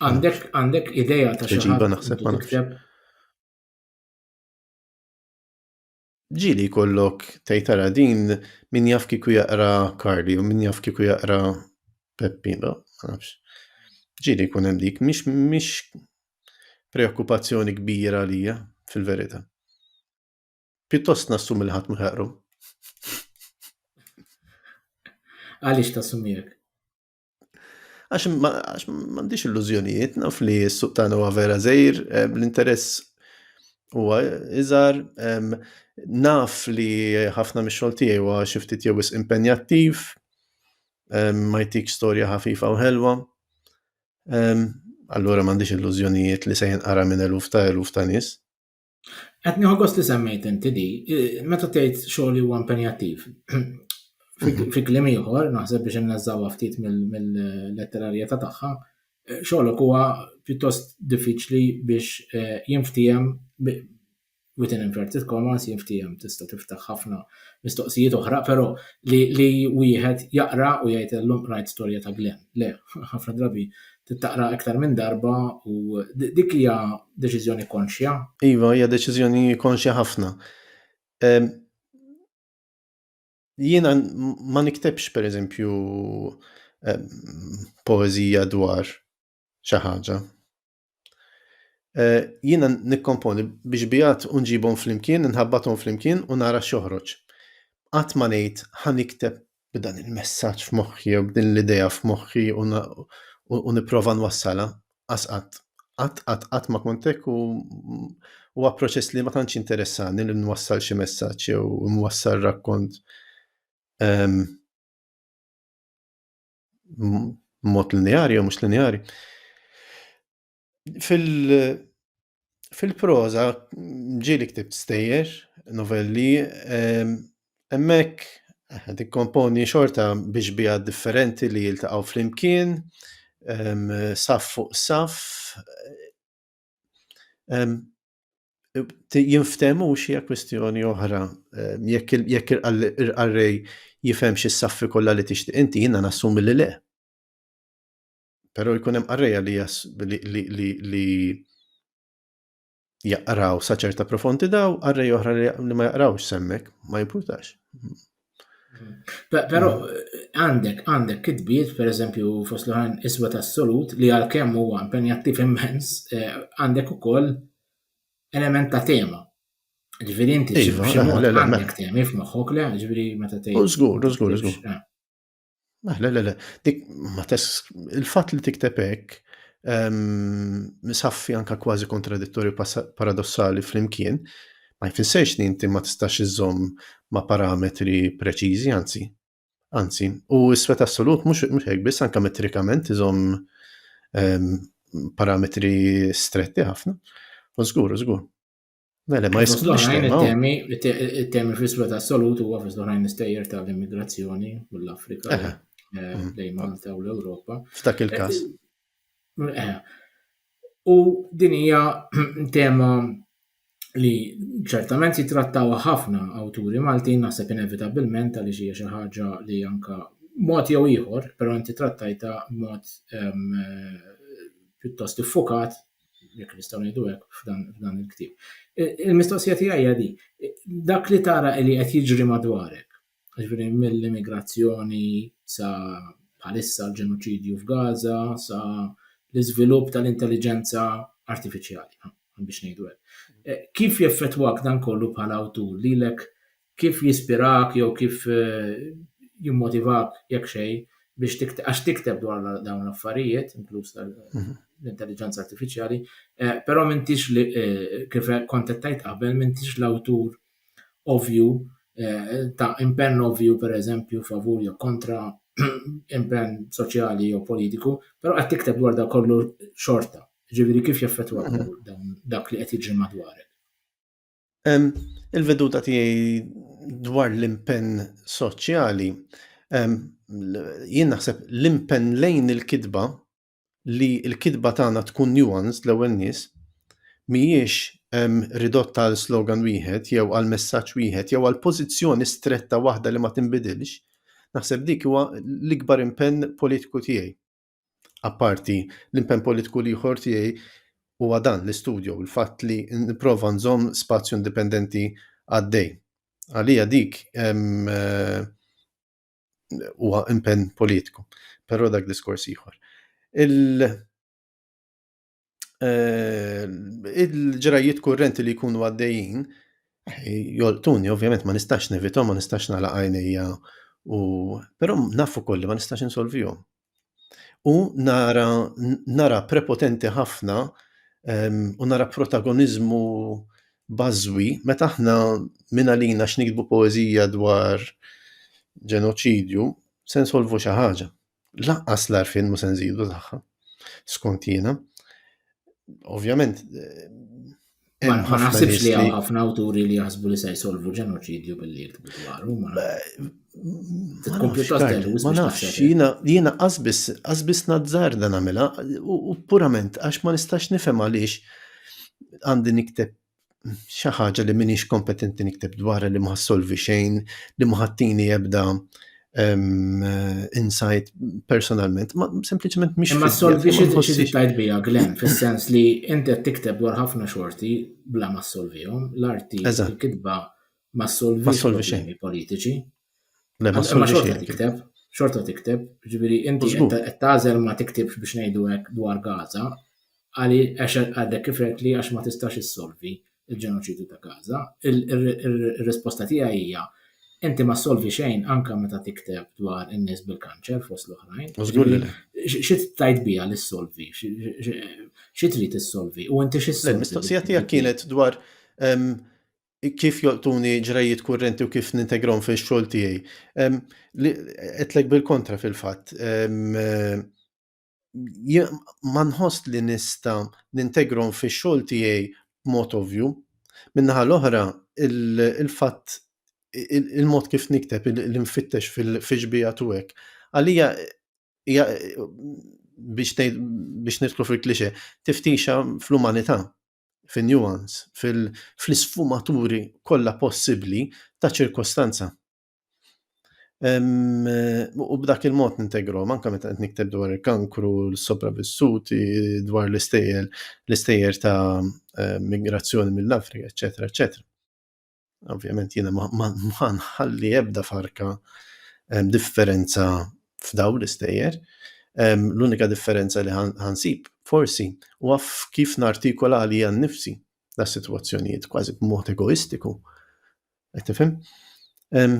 Għandek għandek ideja ta' xi ħaġa naħseb ma tikteb. Ġili kollok tejtara din min jaf kiku jaqra Karli u min jaf kiku jaqra Peppi, ma nafx. Ġili kun hemm dik, mhix mhix preokkupazzjoni kbira għalija fil-verità. Pjuttost nassum il-ħadd ma jaqru. Għaliex tassumiek? Għax m'għandix illużjonijiet, naf li s-suq tagħna huwa vera żejr, eh, l-interess huwa iżgħar, naf li ħafna mix-xogħol tiegħi huwa xi ftit jew wisq impenjattiv, ma jtik storja ħafifa u ħelwa. Allura m'għandix illużjonijiet li se jinqara minn eluf ta' eluf ta' nies. Qed nieħu gost li semmejt inti di, meta tgħid xogħol li huwa impenjattiv. Fi kliem ieħor, naħseb biex inneżżawha ftit mill-letterarjetà tagħha, xogħolok huwa pjuttost diffiċli biex eh, jinftiehem within inverted commas jinftiehem tista' tiftaħ ħafna mistoqsijiet oħra, però li wieħed jaqra u jgħid illum qrajt storja ta' Glenn. Le, ħafna drabi tittaqra iktar minn darba u dik hija deċiżjoni konxja. Iva, hija deċiżjoni konxja ħafna. Jiena ma niktebx pereżempju poeżija dwar xi ħaġa. Eh, jiena nikkomponi biex bijat unġibhom flimkien, nħabbathom flimkien u nara xoħroġ. Qatt ma ngħid ħa nikteb b'dan il-messaġġ f'moħħi u b'din l-idea f'moħħi u nipprova nwassala qas qatt. Qatt qatt qatt ma kont hekk u huwa proċess li ma tantx interessani li nwassal xi messaġġ jew nwassal rakkont ehm, mod lineari jew mhux lineari. Fil-proża ġieli ktibt stejjer, novelli, ehm, hemmhekk qed ikkomponi xorta bi xbieha differenti li jiltaqgħu flimkien, ehm, saff fuq saff, ehm, jinftehmu xi hija kwistjoni oħra, jekk il-qarrej jifhemx is-saffi kollha li tixtieq inti, jiena nassumi li le. Pero jkun hemm qarrejja li jas li li li, li jaqraw sa ċerta profondità u qarrej oħra li ma jaqrawx semmek, ma jimpurtax. Però għandek għandek kitbiet pereżempju fost l-oħrajn iswed assolut li għalkemm huwa impenjattiv immens eh, għandek ukoll element ta' tema. Ġifieri inti iva, xi mod għandek temi f'moħħok le, ġifieri meta tgħid. Żgur, żgur, żgur. Eh. Ah, le, le, le, dik ma tess il-fatt li tikteb hekk misaffi ehm, anka kważi kontradittorju paradossali flimkien ma jfissirx li inti ma tistax iżomm ma' parametri preċiżi, anzi. Anzi, u s-sfet assolut mhux hekk biss anka metrikament iżomm ehm, parametri stretti ħafna. U żgur, żgur. Mela, ma jisklux temi, temi fl-isfel assolutu huwa fis oħrajn istejjer tal-immigrazzjoni mill-Afrika eh, mm. lejn Malta u l-Ewropa. F'dak il-każ. Eh, eh. U din hija tema li ċertament jitrattaw ħafna awturi Maltin naħseb inevitabilment għaliex hija xi ħaġa li anka mod jew ieħor, però inti trattajta mod ehm, pjuttost iffukat jekk nistgħu ngħidu hekk f'dan il-ktieb. Il-mistoqsija tiegħi hija di, dak li tara li qed jiġri madwarek, ġifieri mill-immigrazzjoni sa bħalissa l-ġenoċidju f'Gaza sa l-iżvilupp tal-intelligenza artifiċjali, biex ngħidu hekk. Eh, kif jeffettwak dan kollu bħala awtur lilek kif jispirak jew kif jimmotivak jekk xejn biex tikteb, għax tikteb dwar dawn l-affarijiet, inkluż tal-intelligenza artifiċjali, eh, però m'intix li eh, kif kont qed tgħid qabel m'intix l-awtur ovju eh, ta' impenn ovju pereżempju favur jew kontra impenn soċjali jew politiku, però qed tikteb dwar dak kollu xorta. Ġifieri kif jaffettwa mhm. dak li qed jiġri madwarek. Il-veduta tiegħi dwar l-impenn soċjali, jien naħseb l-impenn lejn il-kitba li l-kitba tagħna tkun nuanced l-ewwel nies, mhijiex ridotta għal slogan wieħed jew għal messaġġ wieħed jew għal pożizzjoni stretta waħda li ma tinbidilx, naħseb dik huwa l-ikbar impenn politiku tiegħi. Apparti, l-impenn politiku l-ieħor tiegħi huwa dan l-istudju u l-fatt li nipprova nżomm spazju indipendenti għaddej. Għalija dik eh, huwa impenn politiku, però dak diskors ieħor. Il- eh, il-ġrajiet kurrenti li jkunu għaddejjin, joltuni, ovvjament ma nistax nevitom, ma nistax nala għajnija, u però nafu kolli ma nistax insolvijom. U nara, nara prepotenti ħafna u nara protagonizmu bażwi meta aħna minn għalina x'nikdbu poeżija dwar ġenoċidju se nsolvu xi ħaġa. Laqqas l-arfin mu se nżidu tagħha. Skont jiena, ovvjament. Eh, ma naħsibx li għal ħafna awturi li jaħsbu li se jsolvu ġenoċidju billi jiktbu dwaru. Ma nafx, jiena jiena qasbis qasbis nazzar dan għamilha u purament għax ma nistax nifhem għaliex għandi nikteb xi ħaġa li minix kompetenti nikteb dwarha li ma solvi xejn, li ma ħattini ebda um, insight personalment, ma sempliċement mhix. Ma solvi xi li tajt bija glem, fis-sens li inti qed tikteb dwar ħafna xorti bla ma solvihom, l-arti kitba ma solvi xejn politiċi. Le, ma Imma xorta xejn. tikteb, xorta tikteb, ġifieri inti Żgur. qed qed tagħżel ma tiktibx biex ngħidu hekk dwar Gaza, għali għax għadek kif għedt li għax ma tistax issolvi l-ġenoċidju ta' Gaza. Il- ir- ir- Ir-risposta tiegħi hija inti ma ssolvi xejn anke meta tikteb dwar in-nies bil-kanċer fost l-oħrajn. U żgur li le. X- Xi tajt biha li ssolvi? X- x- Xi trid issolvi? U inti xi Le, ssolvi? l-mistoqsija tiegħek kienet dwar em, kif joqtuni ġrejjiet kurrenti u kif nintegrom fi xogħol tiegħi. Etlek bil-kontra fil-fatt. Ma nħoss li nista nintegrom fi xogħol tiegħi mod ovvju. Minnaħa l-oħra, il-fatt il-mod kif nikteb l-infittex fil-fiġbija tu hekk. Għalija biex nidħlu fil-klixe, tiftixa fl-umanità. fin-nuance, fl-isfumaturi kollha possibbli ta' ċirkostanza. U b'dak il-mod nintegru, manka meta qed nikteb dwar il-kankru, l-sopravvissuti, dwar l-istejjer, l-istejjer ta' migrazzjoni mill-Afrika, eċetera, eċetera. Ovvjament jiena ma nħalli ebda farka ehm, differenza f'daw l-istejjer. Ehm, l-unika differenza li ħansib, forsi, u għaf kif nartikola li għan nifsi da situazzjonijiet kważi b'mod egoistiku. Qed tifhem? Ehm,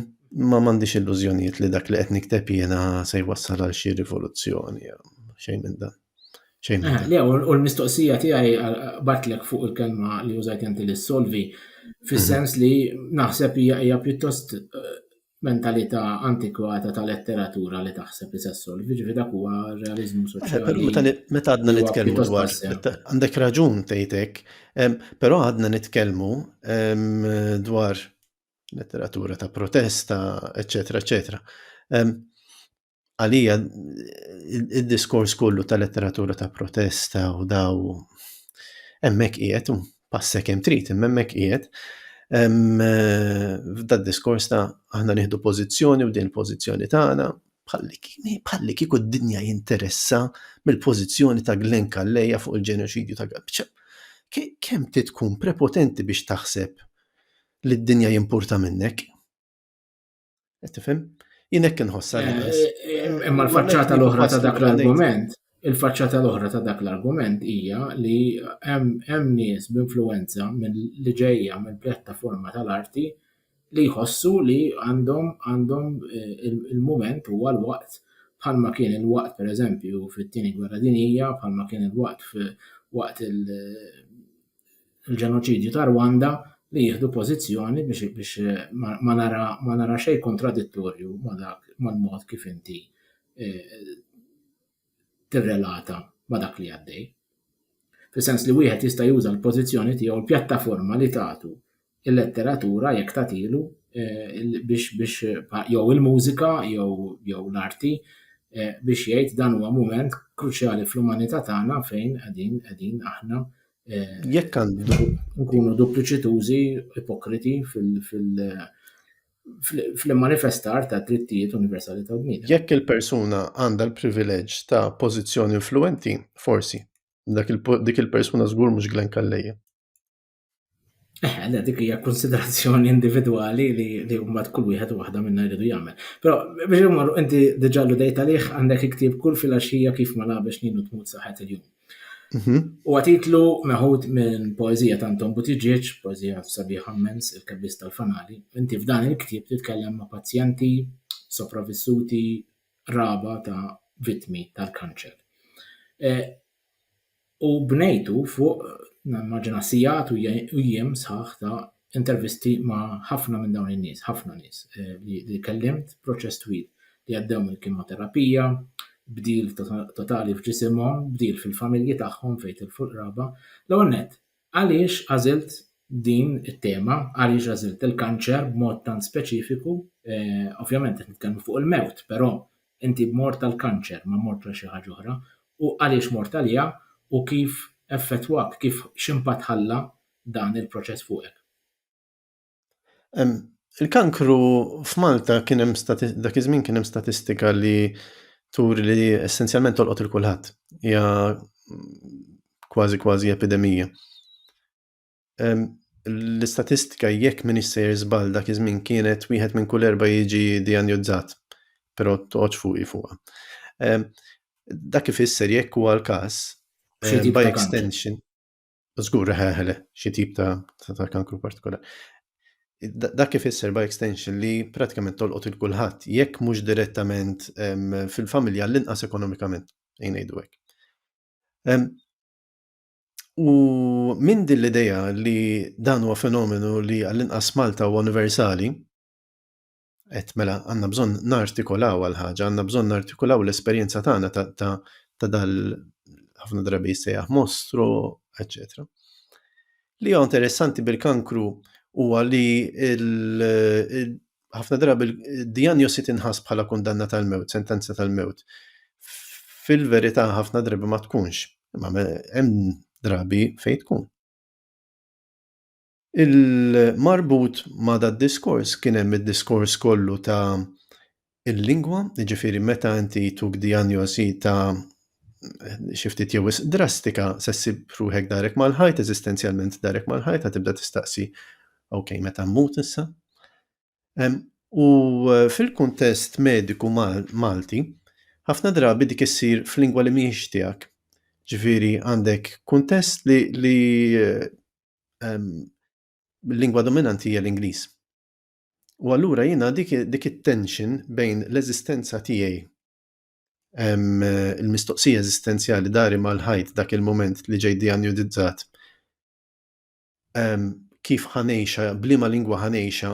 ma m'għandix illużjonijiet li dak li qed nikteb jiena se jwassal għal xi rivoluzzjoni, xejn minn dan. Xejn. Eh, le, u l-mistoqsija tiegħi batlek fuq il-kelma li użajt inti li solvi, fis-sens li naħseb hija hija pjuttost eh, mentalità antikwata ta' letteratura li taħseb li se solvi, ġifi dak huwa realizmu eh, soċjali. Meta għadna nitkellmu dwar, għandek raġun tgħidek, però għadna nitkellmu dwar letteratura ta' protesta, eċetera, eċetera. għalija il-diskors kollu ta' letteratura ta' protesta u daw emmek qiegħed u passek hemm trid imma hemmhekk qiegħed f'da diskors ta' aħna nieħdu pożizzjoni u din il-pożizzjoni tagħna bħalli kieku d-dinja jinteressa mill-pożizzjoni ta' Glenn Kalleja fuq il-ġenoċidju ta' Gabċa. Kemm ti tkun prepotenti biex taħseb li d-dinja jimpurta minnek? Tifhem? Jien hekk inħossha. Eh, eh, imma l-faċċata l-oħra ta' dak l-argument, il-faċċata l-oħra ta' dak l-argument hija li hemm nies b'influenza li ġejja minn pjattaforma tal-arti li jħossu li għandhom għandhom eh, il-moment huwa l-waqt bħalma kien il-waqt pereżempju fit-tieni gwerra dinija, bħalma kien il-waqt waqt il- il-ġenoċidju ta' Rwanda li jieħdu pożizzjoni biex biex eh, ma, ma nara ma nara xejn kontradittorju ma dak mal-mod kif inti eh, tirrelata ma dak li għaddej. Fis-sens li wieħed jista' juża l-pożizzjoni tiegħu l-pjattaforma li tagħtu il-letteratura jekk tagħtilu biex biex jew il-mużika jew jew l-arti biex jgħid dan huwa mument kruċjali fl-umanità tagħna fejn qegħdin qegħdin aħna jekk għandu nkunu dupliċitużi ipokriti fil fil fl-manifestar ta' drittijiet universali ta' bniedem. Jekk il-persuna għandha l-privileġġ ta' pożizzjoni influenti, forsi, dik il-persuna żgur mhux Glenn Kalleja. Eh, le, dik hija konsiderazzjoni individwali li li mbagħad kull wieħed waħda minna jridu jagħmel. Però biex imorru inti diġà l dejta liħ għandek iktib kull filgħaxija kif ma labex nilu tmut saħet il-jum. Mhm. U għatitlu meħud minn poezija ta' Anton Butiġieġ, poezija sabiħ ammens, il-kebbis tal-fanali. Inti f'dan il-ktib titkellem ma' pazjenti, sopravissuti, raba ta' vitmi tal-kanċer. Eh, U bnejtu fuq, nimmaġina, sigħat u jiem sħaħ ta' intervisti ma' ħafna minn dawn in-nies, ħafna nies li kellimt, proċess twil, li għaddew mill-kimoterapija, bdil totali f'ġisimhom, bdil fil-familji tagħhom fejn tilfu l-qraba. L-ewwel nett, Għaliex għażilt din it-tema, għaliex għażilt il-kanċer b'mod tant speċifiku, ovvjament qed nitkellmu fuq il-mewt, però inti mort għal kanċer, ma mortx għal xi ħaġa oħra, u għaliex mort għaliha u kif effettwak, kif x'impatt ħalla dan il-proċess fuqek? Il-kankru f'Malta kien hemm dak iż-żmien kien hemm statistika li turi li essenzjalment tolqot lil kulħadd. Hija kważi kważi epidemija. L-istatistika jekk m'iniex sejjer żball dak iż-żmien kienet wieħed minn kull erba' jiġi dijanjozzat, però toqgħodx fuqi fuqha. Dak ifisser jekk huwa l-każ, by extension... Żgur ħeħle xi tip ta', ta, ta kankru partikolari. Dak kif isser by extension li pratikament tolqot il kulħadd jekk mhux direttament fil-familja l-inqas ekonomikament, ngħidu hekk. U minn din l-idea li dan huwa fenomenu li għall-inqas Malta huwa universali, Et mela għandna bżonn nartikolaw għal ħaġa, għandna bżonn nartikolaw l-esperjenza tagħna ta', ta, ta dal ħafna drabi jsejjaħ mostru, etc. Li huwa interessanti bil-kankru huwa li ħafna drabi d-dijanjosi tinħas bħala kundanna tal-mewt, sentenza tal-mewt. Fil-verità ħafna drabi ma tkunx, imma hemm drabi fejn tkun. Il-marbut ma' dad-diskors kien hemm id-diskors kollu ta' il-lingwa, jiġifieri meta inti tuk dijanjosi ta' xi ftit jew wisq drastika se ssib ruħek darek mal-ħajt, eżistenzjalment darek mal-ħajt, ħa tibda tistaqsi ok, meta mmut issa? U fil-kuntest mediku Malti, ħafna drabi dik issir f'lingwa li mhijiex tiegħek. Ġifieri għandek kuntest li lingwa dominanti hija l-Ingliż. U allura jiena dik it-tension bejn l-eżistenza tiegħi il-mistoqsija eżistenzjali dari mal-ħajt dak il-moment li ġej dijanjudizzat kif ħanejxa, blima lingwa ħanejxa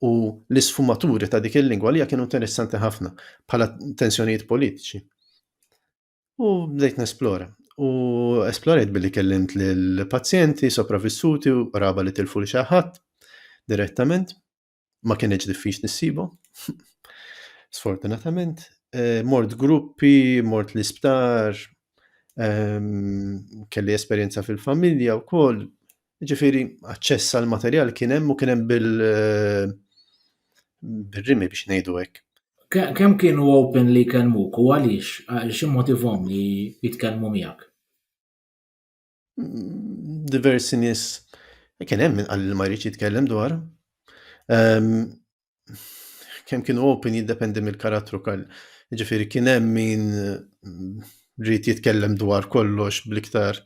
u l-isfumaturi ta' dik il-lingwa li kienu interessanti ħafna bħala tensjonijiet politiċi. U bdejt nesplora. U esplorajt billi kellimt l pazjenti sopravissuti u raba li tilfu li xaħat direttament. Ma kienieċ diffiċ nissibu. Sfortunatament. Eh, mort gruppi, mort l-isptar, ehm, kelli esperienza fil-familja u koll, Ġifiri, aċċess għal materjal kien hemm u kien hemm bil eh, bil-rimi biex ngħidu hekk. Kemm kienu open li jkellmuk u għaliex għal xi motivhom li jitkellmu miegħek? Mm, diversi nies kien hemm min qal ma jridx jitkellem dwar. Ehm, kemm kienu open jiddependi mill-karattru kal. Ġifiri kien hemm min mm, rrit jitkellem dwar kollox bliktar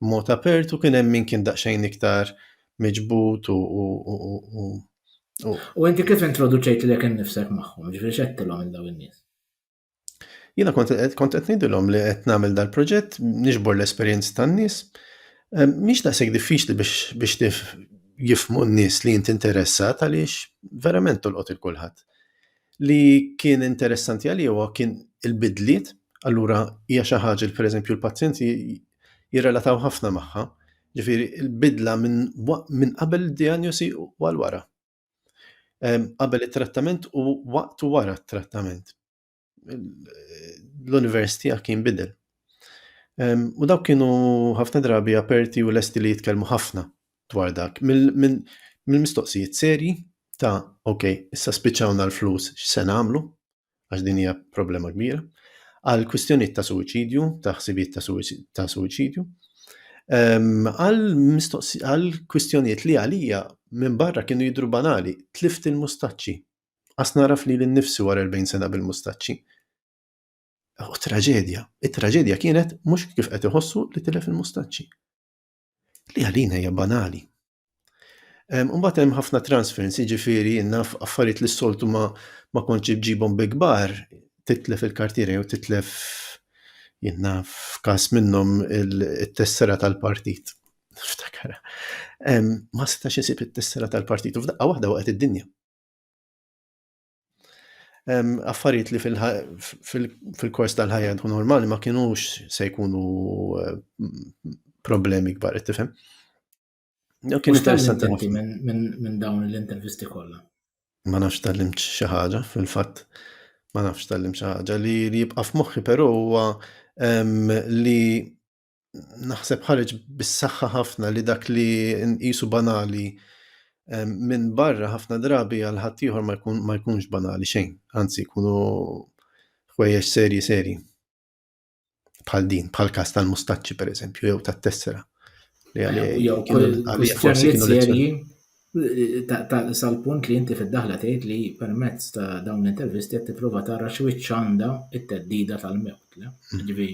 mod apert u kien hemm min kien daqsxejn iktar miġbut u U inti kif introduċejt li kien nifsek magħhom, ġifiri xettilhom il-daw in-nies? Jiena kont qed ngħidilhom li qed nagħmel dal-proġett niġbor l-esperjenzi tan-nies. Ehm, mhix daqshekk diffiċli biex jifmu n-nies li inti interessat għaliex verament tolqot il-kulħadd. Li kien interessanti għalih kien il-bidliet, allura hija xi ħaġa li pereżempju l-pazjenti jirrelataw ħafna magħha. Ġifieri l-bidla minn qabel id-dijanjosi u għal wara. qabel it-trattament u waqt u wara t-trattament. L-univers tiegħek kien bidel. U dawk kienu ħafna drabi aperti u lesti li jitkellmu ħafna dwar dak. Mill-mistoqsijiet serji ta' ok, issa spiċċawna l-flus x'se nagħmlu? għax din hija problema kbira, għal kwistjonijiet ta' suwiċidju, ta' ħsibijiet ta' suwiċidju, ehm, għal kwistjonijiet li għalija minn barra kienu jidru banali, tlift il-mustaċċi. Għas naraf li l-nifsi wara 40 sena bil-mustaċċi. U traġedja, it-traġedja kienet mhux kif qed iħossu li tilef il-mustaċċi. Li għalina hija banali. Mbagħad hemm ħafna transference, jiġifieri naf affarijiet li s-soltu ma ma kontx ġibhom bi kbar, titlef il-kartiera jew titlef jenna f'każ minnhom it-tessera tal-partit. Ftakar. Ma setax isib it-tessera tal-partit u f'daqqa waħda waqgħet id-dinja. affarijiet li fil-kors tal-ħajja tkun normali ma kienux se jkunu eh, problemi kbar, tifhem? Kien interessanti minn dawn l-intervisti kollha. Ma nafx tal limt xi ħaġa fil-fatt. Ma nafx tal limt xi ħaġa li jibqa' f'moħħi però huwa li naħseb ħareġ bis-saħħa ħafna li dak li nqisu banali minn barra ħafna drabi għal ħaddieħor ma jkunx banali xejn, anzi jkunu ħwejjeġ serji serji. Bħal din, bħal kas tal-mustaċċi per eżempju, jew tat-tessera. Li għalli forsi serji sal-punt li inti fid-daħla tgħid li permezz ta' dawn l-intervisti qed tipprova tara x'wiċċ għandha t-teddida tal-mewt. Ġifieri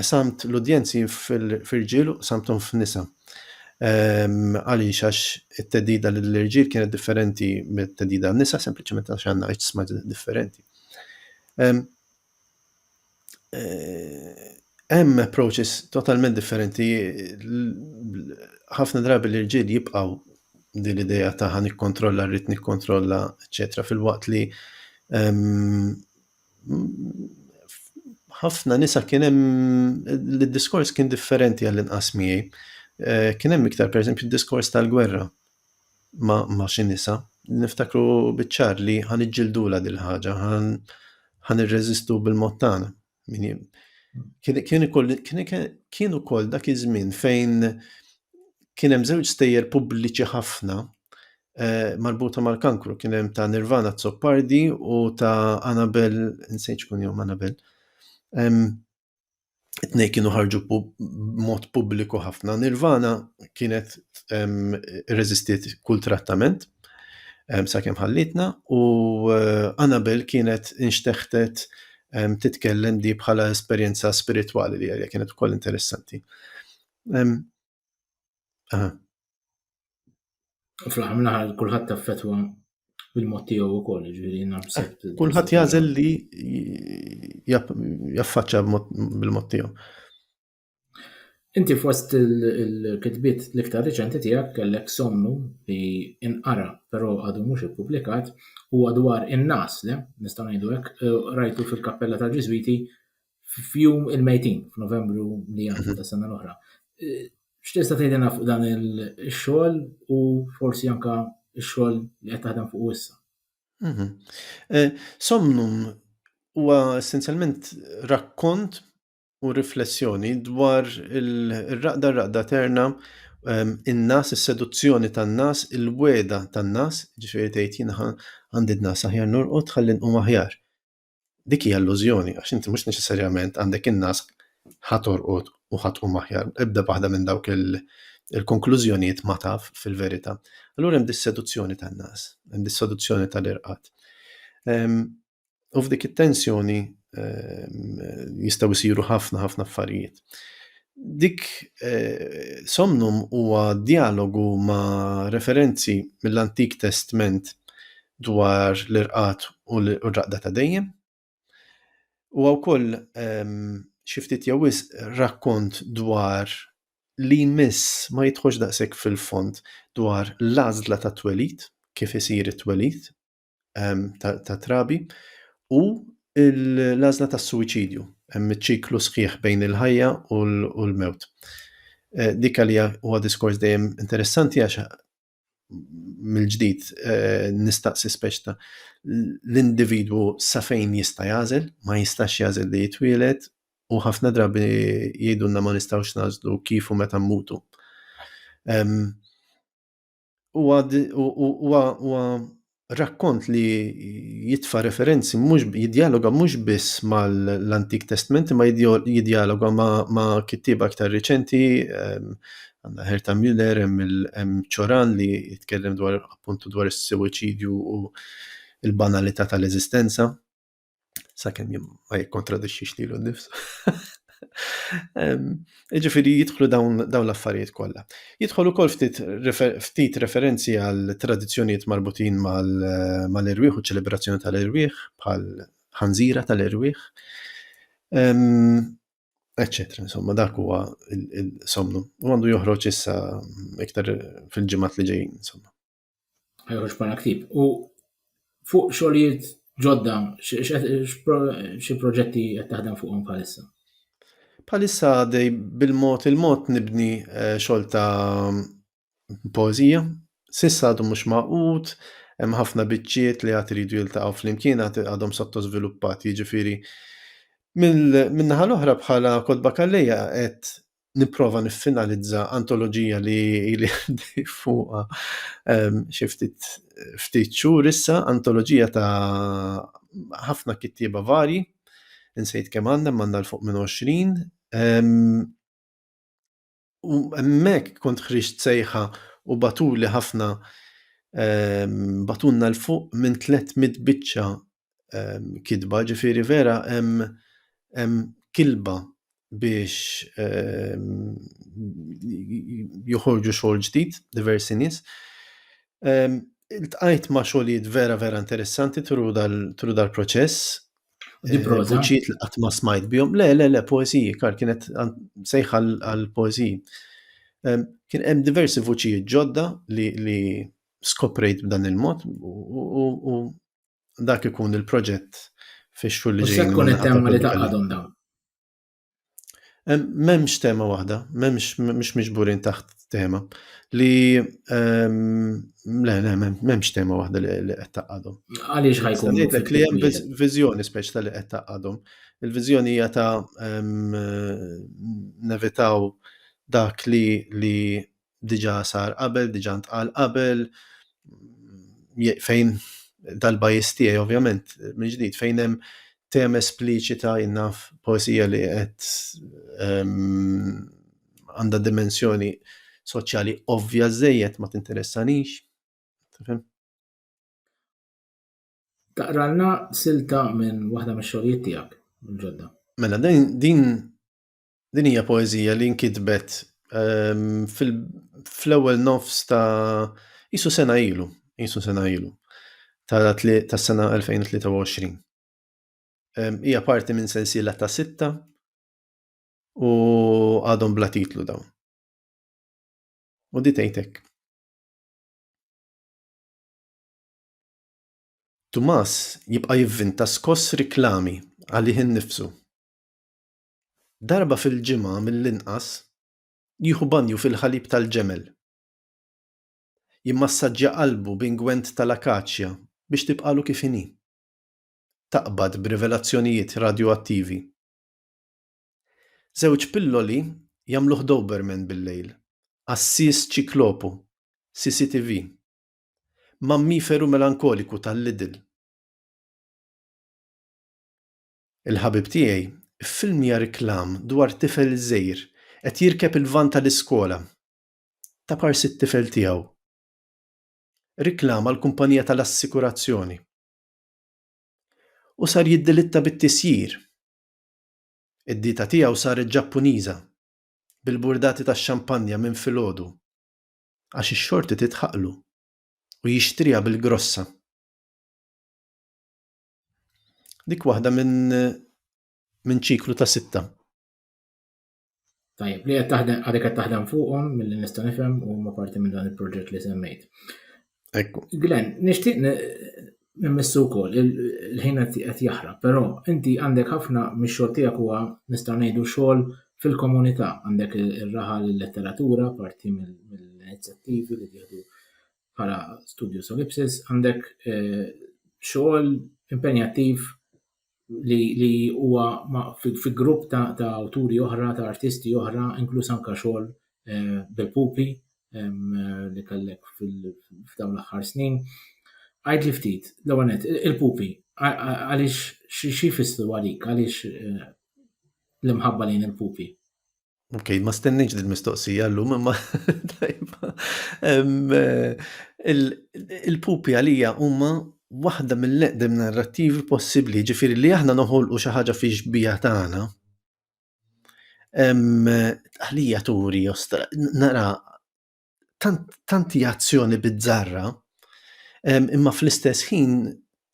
qsamt l-udjenzi f'irġiel u qsamthom f'nisa. Ehm, għaliex għax it-tedida lill-irġiel kienet differenti mit-tedida għan-nisa, sempliċement għax għandna iġsma differenti. Ehm, eh, hemm approaches totalment differenti. Ħafna drabi l-irġiel jibqgħu din l-idea ta' ħan ikkontrolla, rrid nikkontrolla, eċetera, fil-waqt li ehm, ħafna nisa kien hemm li d-diskors kien differenti għall-inqas miegħi. Eh, kien hemm iktar pereżempju d-diskors tal-gwerra ma, ma xi nisa. Niftakru biċ-ċar li ħan iġġildula dil ħaġa, ħan irreżistu bil-mod tagħna. Kien ukoll dak iż-żmien fejn kien hemm żewġ stejjer pubbliċi ħafna eh, marbuta mal-kankru kien hemm ta' Nirvana Zoppardi u ta' Anabel, nsejċ kun jom Anabel. Tnej kienu ħarġu mod pubbliku ħafna. Nirvana kienet rezistiet kull trattament sakemm ħallitna u eh, Anabel kienet inxteħtet titkellem di bħala esperjenza spiritwali li għalja kienet ukoll interessanti. U fl-aħħar mill-aħħar kulħadd taffetwa bil-mod tiegħu wkoll, ġifieri nabsebt. Kulħadd jażel li jaffaċċa bil-mod tiegħu. Inti fost il-kitbiet l-iktar riċenti tiegħek kellek somnu li inqara però għadu mhux ippubblikat huwa dwar in-nas, nistgħu ngħidu hekk, rajtu fil-Kappella tal-Ġiżwiti f'jum il-mejtin, f'Novembru li għandu mhm. ta' sena l-oħra. Eh, x'tista' tgħidilna fuq dan il-xogħol u forsi anka x-xogħol li qed taħdem fuq issa? Mhm. Eh, Somnum huwa essenzjalment rakkont u riflessjoni dwar il-raqda raqda terna ehm, in-nas, is-seduzzjoni tan-nas, il-weda tan-nas, ġifieri tgħid jiena għandi n-nas aħjar nurqod ħalli nqum aħjar. Dik hija illużjoni għax inti mhux neċessarjament għandek in-nas ħa torqod u ħa tqum aħjar. Ebda waħda minn dawk il-konklużjonijiet ma taf fil-verità. Allura hemm dis-seduzzjoni tan-nas, hemm dis-seduzzjoni tal-irqad. Ehm, u f'dik it-tensjoni ehm, jistgħu jsiru ħafna ħafna affarijiet dik eh, somnum huwa dialogu ma' referenzi mill-Antik Testment dwar l-irqad u r-raqda ta' dejjem. Huwa wkoll ehm, xi ftit jew wisq rakkont dwar li jmiss ma jidħolx daqshekk fil-fond dwar l-għażla ta' twelid, kif isir it-twelid ehm, ta' trabi, u l-għażla tas-suwiċidju, hemm iċ-ċiklu sħiħ bejn il-ħajja u l-mewt. Eh, dik għalija huwa diskors dejjem interessanti għax mill-ġdid eh, nistaqsi speċta l-individwu sa fejn jista' jażel, ma jistax jażel li jitwielet u ħafna drabi jgħidulna ma nistgħux nażlu kif u meta mmutu. Huwa rakkont li jitfa referenzi mhux jidjaloga mhux biss mal-Antik Testment imma jidjaloga ma' kittieba aktar riċenti ehm, għandna Herta Müller hemm Ċoran li jitkellem dwar appuntu dwar is-suwiċidju u l-banalità tal-eżistenza. sakemm jien ma jikkontradixxix lilu nnifsu. Ġifieri jidħlu dawn l-affarijiet kollha. Jidħol ukoll ftit referenzi għal tradizzjonijiet marbutin mal-irwieħ u ċelebrazzjoni tal-irwieħ bħal ħanżira tal-irwieħ. Eċċetera, insomma, dak huwa il-somnu. U għandu joħroġ issa iktar fil-ġimgħat li ġejjin, insomma. ħajħroġ bħala ktib. U fuq xogħlijiet ġodda, xi proġetti qed taħdem fuqhom bħalissa? Bħalissa dej bil-mod il-mod nibni eh, xogħol ta' poezija. Sissa għadu mhux maqut, hemm ħafna biċċiet li għad iridu jiltaqgħu flimkien għadhom sottosviluppati, jiġifieri Min-naħa l-oħra bħala kodba kalleja qed nipprova niffinalizza antoloġija li li għandi fuqha ehm, xi ftit ftit xhur issa, antoloġija ta' ħafna kittieba varji, insejt kemm għandna m'għandna l fuq minn 20. Ehm, u hemmhekk kont ħriġt sejħa u batuli ħafna ehm, batunna l fuq minn 300 biċċa kidba, ġifiri vera hemm kilba biex joħorġu xogħol ġdid diversi nies. Iltqajt ma' xogħlijiet vera vera interessanti tru dal-proċess. Di proza? Vuċijiet li qatt ma smajt bihom. Le, le, le, poeżiji, kar kienet sejħa għal poeżiji. Kien hemm diversi vuċijiet ġodda li skoprejt b'dan il-mod u dak ikun il-proġett fi xhur li ġejjin. Tkun it-tema li taqadhom dawn. M'hemmx tema waħda, m'hemmx mhux miġburin taħt tema li le le m'hemmx tema waħda li qed taqadhom. Għaliex ħajkun. Ngħidlek li hemm viżjoni speċta li qed taqadhom. Il-viżjoni hija ta' nevitaw dak li li diġà sar qabel, diġà ntqal qabel, fejn dal-bajis tiegħi ovvjament minn ġdid fejn hemm tem espliċita jinnaf poesija li qed ehm, għandha dimensjoni soċjali ovvja żejjed ma tinteressanix. Taqralna silta minn waħda mix-xogħlijiet tiegħek mill-ġodda. Mela din Din hija poeżija li nkitbet ehm, fl-ewwel nofs ta' isu sena ilu, isu sena ilu, ta' sena 2023. Ehm, hija parti minn sensiela ta' sitta u għadhom bla titlu dawn. U di tgħidek. Tumas jibqa' jivvinta skoss riklami għalih innifsu. darba fil-ġimgħa mill-inqas, jieħu banju fil-ħalib tal-ġemel. Jimmassaġġja qalbu b'ingwent tal-akaċja biex tibqagħlu kif inhi. Taqbad b'rivelazzjonijiet radjoattivi. Żewġ pilloli jagħmluh Doberman bil-lejl, għassies ċiklopu, CCTV, mammiferu melankoliku tal-Lidl. Il-ħabib tiegħi ffilmja reklam dwar tifel żgħir qed jirkeb il-vann tal-iskola. Ta pars it-tifel tiegħu. Reklam għall-kumpanija tal-assikurazzjoni. U sar jiddilitta bit-tisjir. Id-dieta tiegħu saret Ġappuniża, bil-burdati tax-xampanja minn filgħodu, għax ix-xorti tidħaqlu u jixtriha bil-grossa. Dik waħda minn min ċiklu ta' sitta. Tajjeb, li qed taħdem għadek qed taħdem fuqhom milli nista' nifhem u ma parti minn dan il-proġett li semmejt. Ekku. Glenn, nixtieq nimmissu wkoll il-ħin qed jaħrab, però inti għandek ħafna mix-xogħol tiegħek huwa nista' ngħidu xogħol fil-komunità, għandek ir-raħal il-letteratura parti mill-inizjattivi li jieħdu bħala studju solipsis, għandek eh, xogħol impenjattiv li huwa fi grupp ta' awturi oħra, ta' artisti oħra, inkluż anka xogħol eh, bil-pupi li kellek f'dawn l-aħħar snin. Għajd li ftit, l-għanet, il-pupi, għalix xie fissru għalik, għalix eh, l-imħabba lejn il-pupi? Ok, ma stenniġ din mistoqsija l-lum, imma tajba. Eh, il-pupi għalija huma waħda mill-eqdem narrativi possibbli, ġifiri li aħna noħolqu xi ħaġa fi xbija tagħna. Għalija turi, nara tant hija azzjoni bizzarra imma fl-istess ħin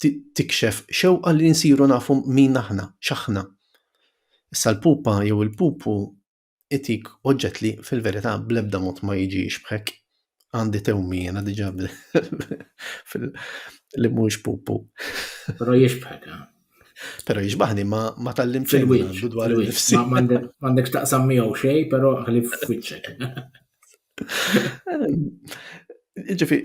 tikxef xewqa li nsiru nafu min aħna, x'aħna. Issa l-pupa jew il-pupu itik oġġett li fil-verità bl-ebda mod ma jiġi jixbħek. Għandi tewmi jiena diġà li mhuwiex pupu. Però jixbħek, eh? Pero jiġbaħni ma, ma tallim xejn għandu dwar il-nifsi. M'għandekx taqsam miegħu xej, pero għalli f'wiċċek. Ġifi,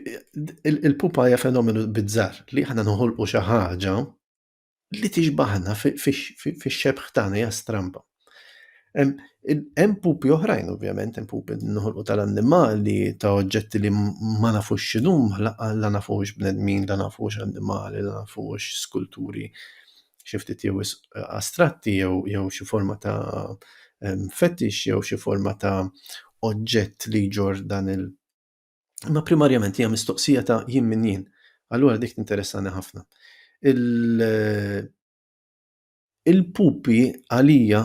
il-pupa hija fenomenu bizzar li ħana nħolqu xi ħaġa li tiġbaħna fix-xebħ tagħna hija strampa. Hemm pupi oħrajn ovvjament, hemm pupi noħolqu tal-annimali, ta' oġġetti li ma nafux x'inhuma, la nafu hux bnedmin, la nafu hux annimali, la nafu hux skulturi xi ftit jew wisq astratti jew xi forma ta' fetix jew xi forma ta' oġġett li jġorr dan il-. Imma primarjament hija mistoqsija ta' jien min jien, allura dik tinteressani ħafna. Il. Il-pupi għalija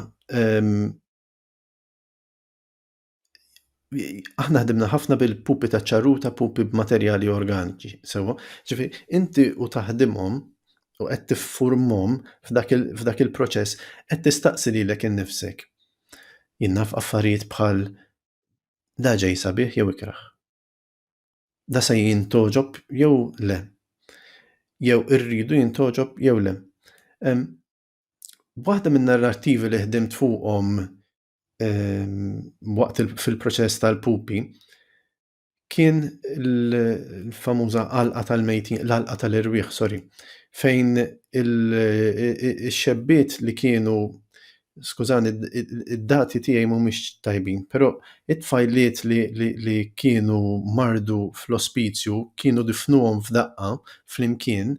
aħna ħdimna ħafna bil-pupi ta' ċarruta, pupi b'materjali organiċi, sewwa. Ġifi, inti u taħdimhom u qed tiffurmhom f'dak il-proċess, qed tistaqsi lilek innifsek, Jien naf affarijiet bħal da ġej sabiħ jew ikrah? da se jintoġob jew le. Jew irridu jintoġob jew le. Waħda minn narrativi li ħdimt fuqhom waqt fil-proċess tal-pupi kien l-famuża għalqa tal-mejtin, l-għalqa tal-irwieħ, sorry, fejn ix-xebbiet li kienu skużani, id-dati tiegħi mhumiex tajbin, però it-tfajliet li, li, li kienu mardu fl-ospizju kienu difnuhom f'daqqa flimkien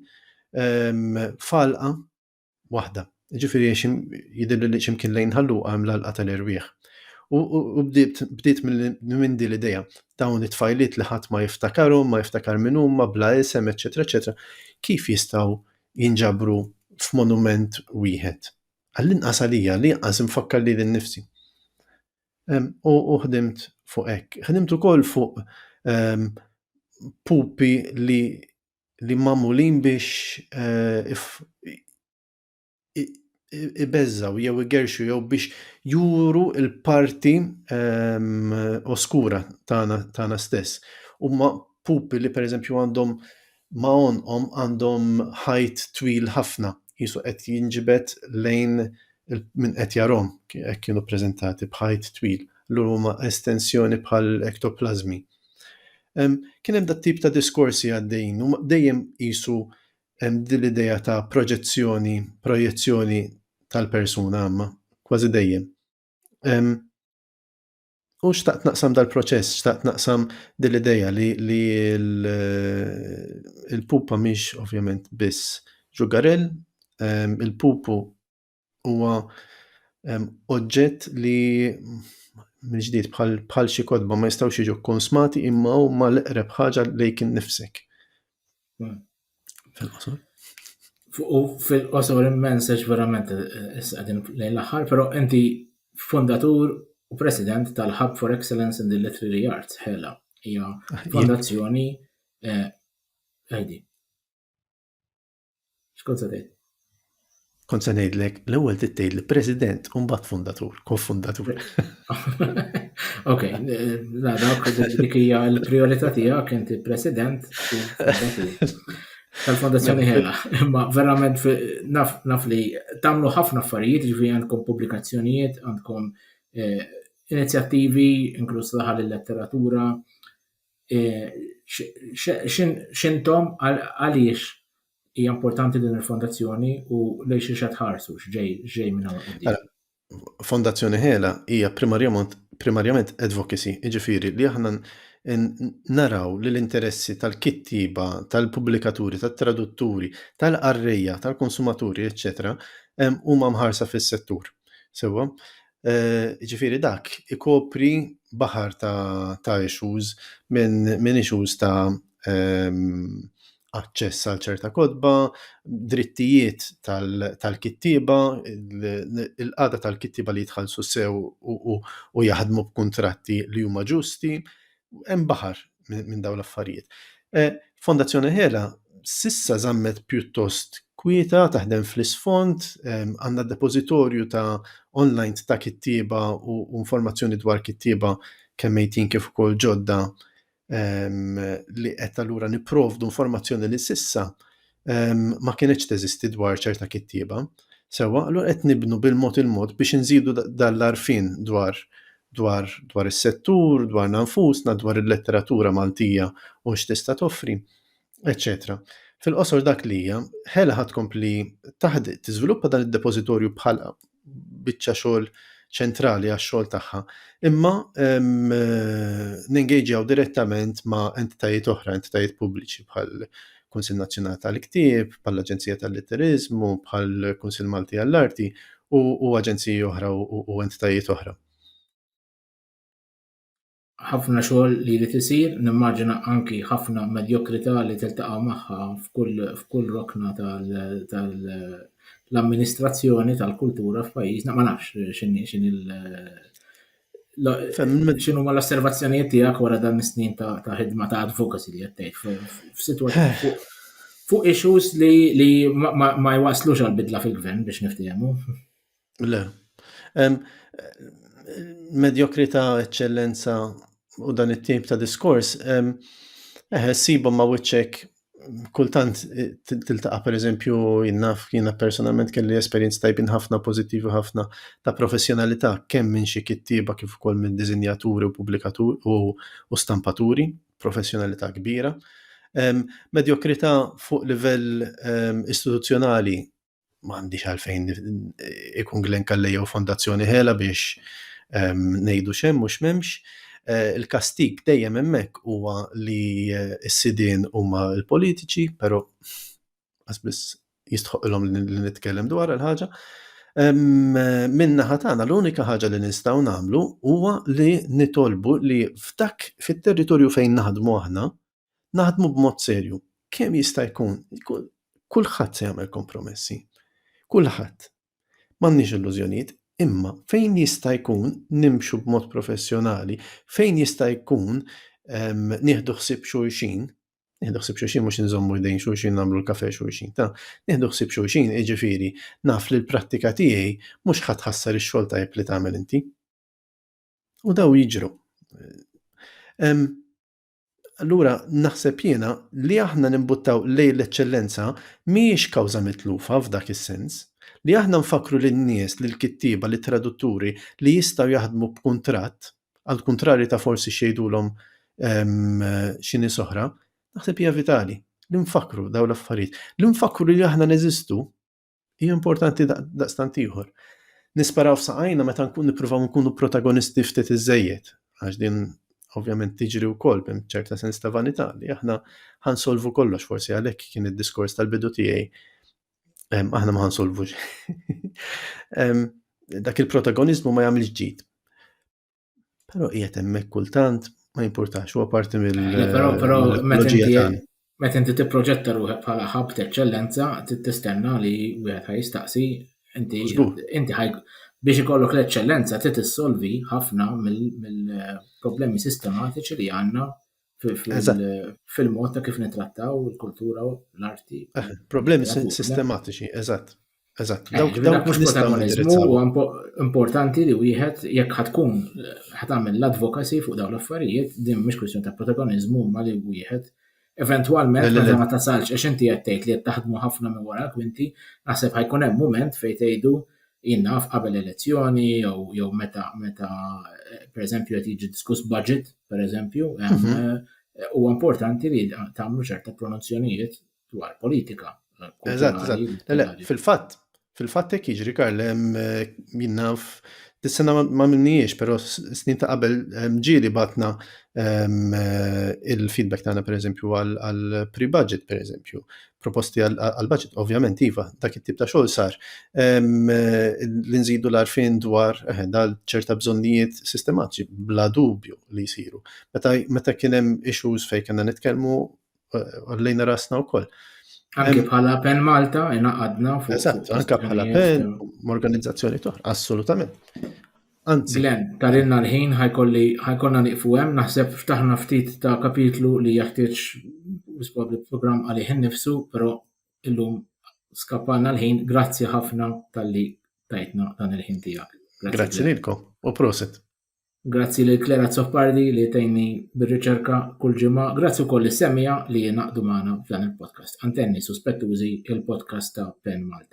ehm, falqa waħda. Ġifieri jidilli li ximkien lejn ħalluqa hemm l-alqa tal-irwieħ. U bdiet minn din l-idea dawn it-tfajliet li ħadd ma jiftakarhom, ma jiftakar minn huma, bla isem, eċetera, eċetera, kif jistgħu jinġabru f'monument wieħed Għall-inqas għalija, għall-inqas infakkar lili nnifsi. U ħdimt fuq hekk. Ħdimt ukoll fuq ehm, pupi li li mamulin biex eh, ibezzaw jew igerxu jew biex juru il-parti ehm, oskura tagħna stess. Huma pupi li pereżempju għandhom ma' għonqhom għandhom ħajt twil ħafna, Ġesù qed jinġibed lejn min qed jarahom hekk kienu ppreżentati b'ħajt twil, allura huma estensjoni bħal ektoplażmi. Kien hemm dat-tip ta' diskorsi għaddejjin, huma dejjem qisu din l-idea ta' proġezzjoni, projezzjoni tal-persuna, imma kważi dejjem. U xtaqt naqsam dal-proċess, xtaqt naqsam dil-ideja li, li il-pupa miex ovvjament biss ġugarell, ehm, il-pupu huwa ehm, oġġett li mġdiet bħal xi kodba ma jistgħux jiġu konsmati imma huma l-eqreb ħaġa lejk innifsek. Fil-qosor. U fil-qosor immens għax verament eh, eh, issa qegħdin lejn l-aħħar, però inti fondatur u president tal-Hub for Excellence in the Literary Arts, ħela, hija ah, fondazzjoni eh, għajdi. Xkont se tgħid? Kont se ngħidlek l-ewwel tittejl president u mbagħad fundatur, kofundatur. Ok, la dak dik hija l-prijorità tiegħek inti president u tal-fondazzjoni ħela. Imma verament naf li tagħmlu ħafna affarijiet, ġifieri għandkom pubblikazzjonijiet, għandkom eh, inizjattivi, inkluż laħal il-letteratura, x'intom għaliex hija importanti din il-fondazzjoni u lejn xi qed ħarsu x'ġej minn hawn quddiem. Mela, fondazzjoni Hela hija primarjament advocacy, jiġifieri li aħna naraw li l-interessi tal-kittieba, tal-pubblikaturi, tat-tradutturi, tal-qarrejja, tal-konsumaturi, eċċetera, huma mħarsa fis-settur. Sewwa? Jiġifieri dak ikopri baħar ta' issues minn issues ta' aċċess għal ċerta kotba, drittijiet tal-kittieba, il-qagħda tal-kittieba li jitħallsu sew u jaħdmu b'kuntratti li huma ġusti, hemm baħar minn dawn l-affarijiet. Eh, Fondazzjoni Hela sissa zammet pjuttost kwieta taħdem fl-isfond, għandna depozitorju ta' online ta' kittieba u informazzjoni dwar kittieba kemm mejtin kif ukoll ġodda li qed allura nipprovdu informazzjoni li sissa ma kienetx teżisti dwar ċerta kittieba. Sewa, allura qed nibnu bil-mod il-mod biex inżidu dal-arfin dwar dwar dwar is-settur, dwar nanfusna, dwar il-letteratura Maltija u x'tista' toffri, eċċetera. Fil-qosor dak li hija, ħela ħad kompli taħdi tiżviluppa dan id-depożitorju bħal biċċa xogħol ċentrali għax-xogħol tagħha, imma nengejġjaw direttament ma' entitajiet oħra, entitajiet pubbliċi bħal Kunsill Nazzjonali tal-Ktieb, bħal Aġenzija tal-Litteriżmu, bħal Kunsill Malti għall-Arti u aġenziji oħra u entitajiet oħra. Ħafna xogħol li jrid isir, nimmaġina anki ħafna medjokrità li tiltaqa' magħha f'kull rokna tal-amministrazzjoni tal-kultura f'pajjiżna, ma nafx x'inhi x'inhi x'inhu ma l-osservazzjonijiet tiegħek wara dan is-snin ta' ħidma ta' advocacy li qed f'sitwazzjoni fuq issues li ma jwaslux għal bidla fil-gvern biex niftehmu. Le. Medjokrita, eċċellenza u dan it-tip ta' diskors, eħe, sibhom ma' wiċċek kultant eh, tiltaqa' pereżempju jien naf jiena personalment kelli esperjenzi tajbin ħafna pożittivi ħafna ta' professjonalità kemm minn xi kittieba kif ukoll minn diżinjaturi u pubblikaturi u stampaturi, professjonalità kbira. Medjokrità fuq livell istituzzjonali ma għandix għalfejn ikun Glenn Kalle jew Fondazzjoni Hela biex ehm, ngħidu xemm u x'memx. Eh, il-kastik dejjem hemmhekk huwa li eh, s-sidien huma l-politiċi, però għasbis jistħoqilhom li nitkellem dwar il-ħaġa. Ehm, eh, minna ħatana l-unika ħaġa li nistgħu nagħmlu huwa li nitolbu li f'dak fit-territorju fejn naħdmu aħna, naħdmu b'mod serju, kemm jista' jkun, kulħadd se jagħmel kompromessi. Kulħadd. M'għandniex illużjonijiet, imma fejn jista' jkun nimxu b'mod professjonali, fejn jista' jkun ehm, nieħdu ħsieb xulxin, nieħdu ħsieb xulxin mhux inżommu jdejn xulxin nagħmlu l-kafe xulxin, ta' nieħdu ħsieb xulxin jiġifieri naf li l-prattika tiegħi mhux ħadd ħassar ix-xogħol tajjeb li tagħmel inti. U daw jiġru. Ehm, Allura naħseb jiena li aħna nimbuttaw lejn l-eċċellenza mhijiex kawża mitlufa f'dak is-sens. Li aħna nfakkru lin-nies, lill-kittieba, lit-tradutturi li jistgħu jaħdmu b'kuntratt, għal kuntrarju ta' forsi x'jgħidulhom ehm, xi nies oħra, naħseb hija vitali li nfakkru dawn l-affarijiet. Li nfakkru li aħna neżistu Hija importanti daqstant ieħor. Nisparaw f'saqajna meta nkun nippruvaw nkunu protagonisti ftit iżejjed, għax din ovvjament tiġri wkoll b'hemm ċerta sens ta' vanità li aħna ħansolvu kollox forsi għalhekk kien id-diskors tal-bidu tiegħi aħna ma ħansolvux. Dak il-protagonizmu ma jagħmilx ġid. Però qiegħed hemmhekk kultant ma jimpurtax huwa parti mill eh, Però però meta mill-ekoloġija inti tagħna. meta inti tipproġetta ruħek bħala ħabb t'eċċellenza, trid tistenna li wieħed ħaj jistaqsi inti Żgur. inti ħaj biex ikollok l-eċċellenza trid issolvi ħafna mill- mill-problemi sistematiċi li għandna fil-mod ta' kif nitrattaw il-kultura u l-arti. Eh, problemi sistematiċi, eżatt. Eżatt, eh, dawk dawk mhux protagonizmu importanti li wieħed jekk ħatkun ħatamel l-advocacy fuq dawn l-affarijiet, din mhux kwistjoni ta' protagonizmu ma li wieħed Eventualment, meta ma tasalx, għax inti qed tgħid li qed taħdmu ħafna minn wara kwinti, naħseb ħajkun hemm mument fejn tgħidu jien naf qabel elezzjoni jew jew meta meta pereżempju qed jiġi diskuss budget, pereżempju, mhm. eh, huwa importanti li tagħmlu ċerta pronunzjonijiet dwar politika. Eżatt, eżatt. Fil-fatt, fil-fatt hekk jiġri Karl hemm eh, jinnaf Dis-sena ma minniex, pero snin ta' qabel ehm, ġili batna ehm, eh, il-feedback tagħna pereżempju għal pre-budget pereżempju. proposti għal-budget, ovvjament, iva, dak it-tip ta' xogħol sar. Ehm, li nżidu l-arfin dwar eh, dal ċerta bżonnijiet sistematiċi, bla dubju li jisiru. Meta kien hemm issues fejn kena nitkellmu eh, għallejna rasna wkoll. Anke ehm, bħala pen Malta, inaqadna fuq. Eżatt, anke bħala pen, organizzazzjoni toħra, assolutament. Anzi. Glenn, tarilna l-ħin ħajkolli ħajkonna nieqfu hemm, naħseb ftaħna ftit ta' kapitlu li jeħtieġ probabbli programm għalih innifsu, però illum skappalna l-ħin, grazzi ħafna tal-li tajtna dan il-ħin tiegħek. Grazzi lilkom u proset. Grazzi lil Klera Zoppardi li tejni bir-riċerka kull ġimgħa. Grazzi wkoll is-semija li jenaqdu magħna f'dan il-podcast. Antenni suspettużi il-podcast ta' Pen Malta.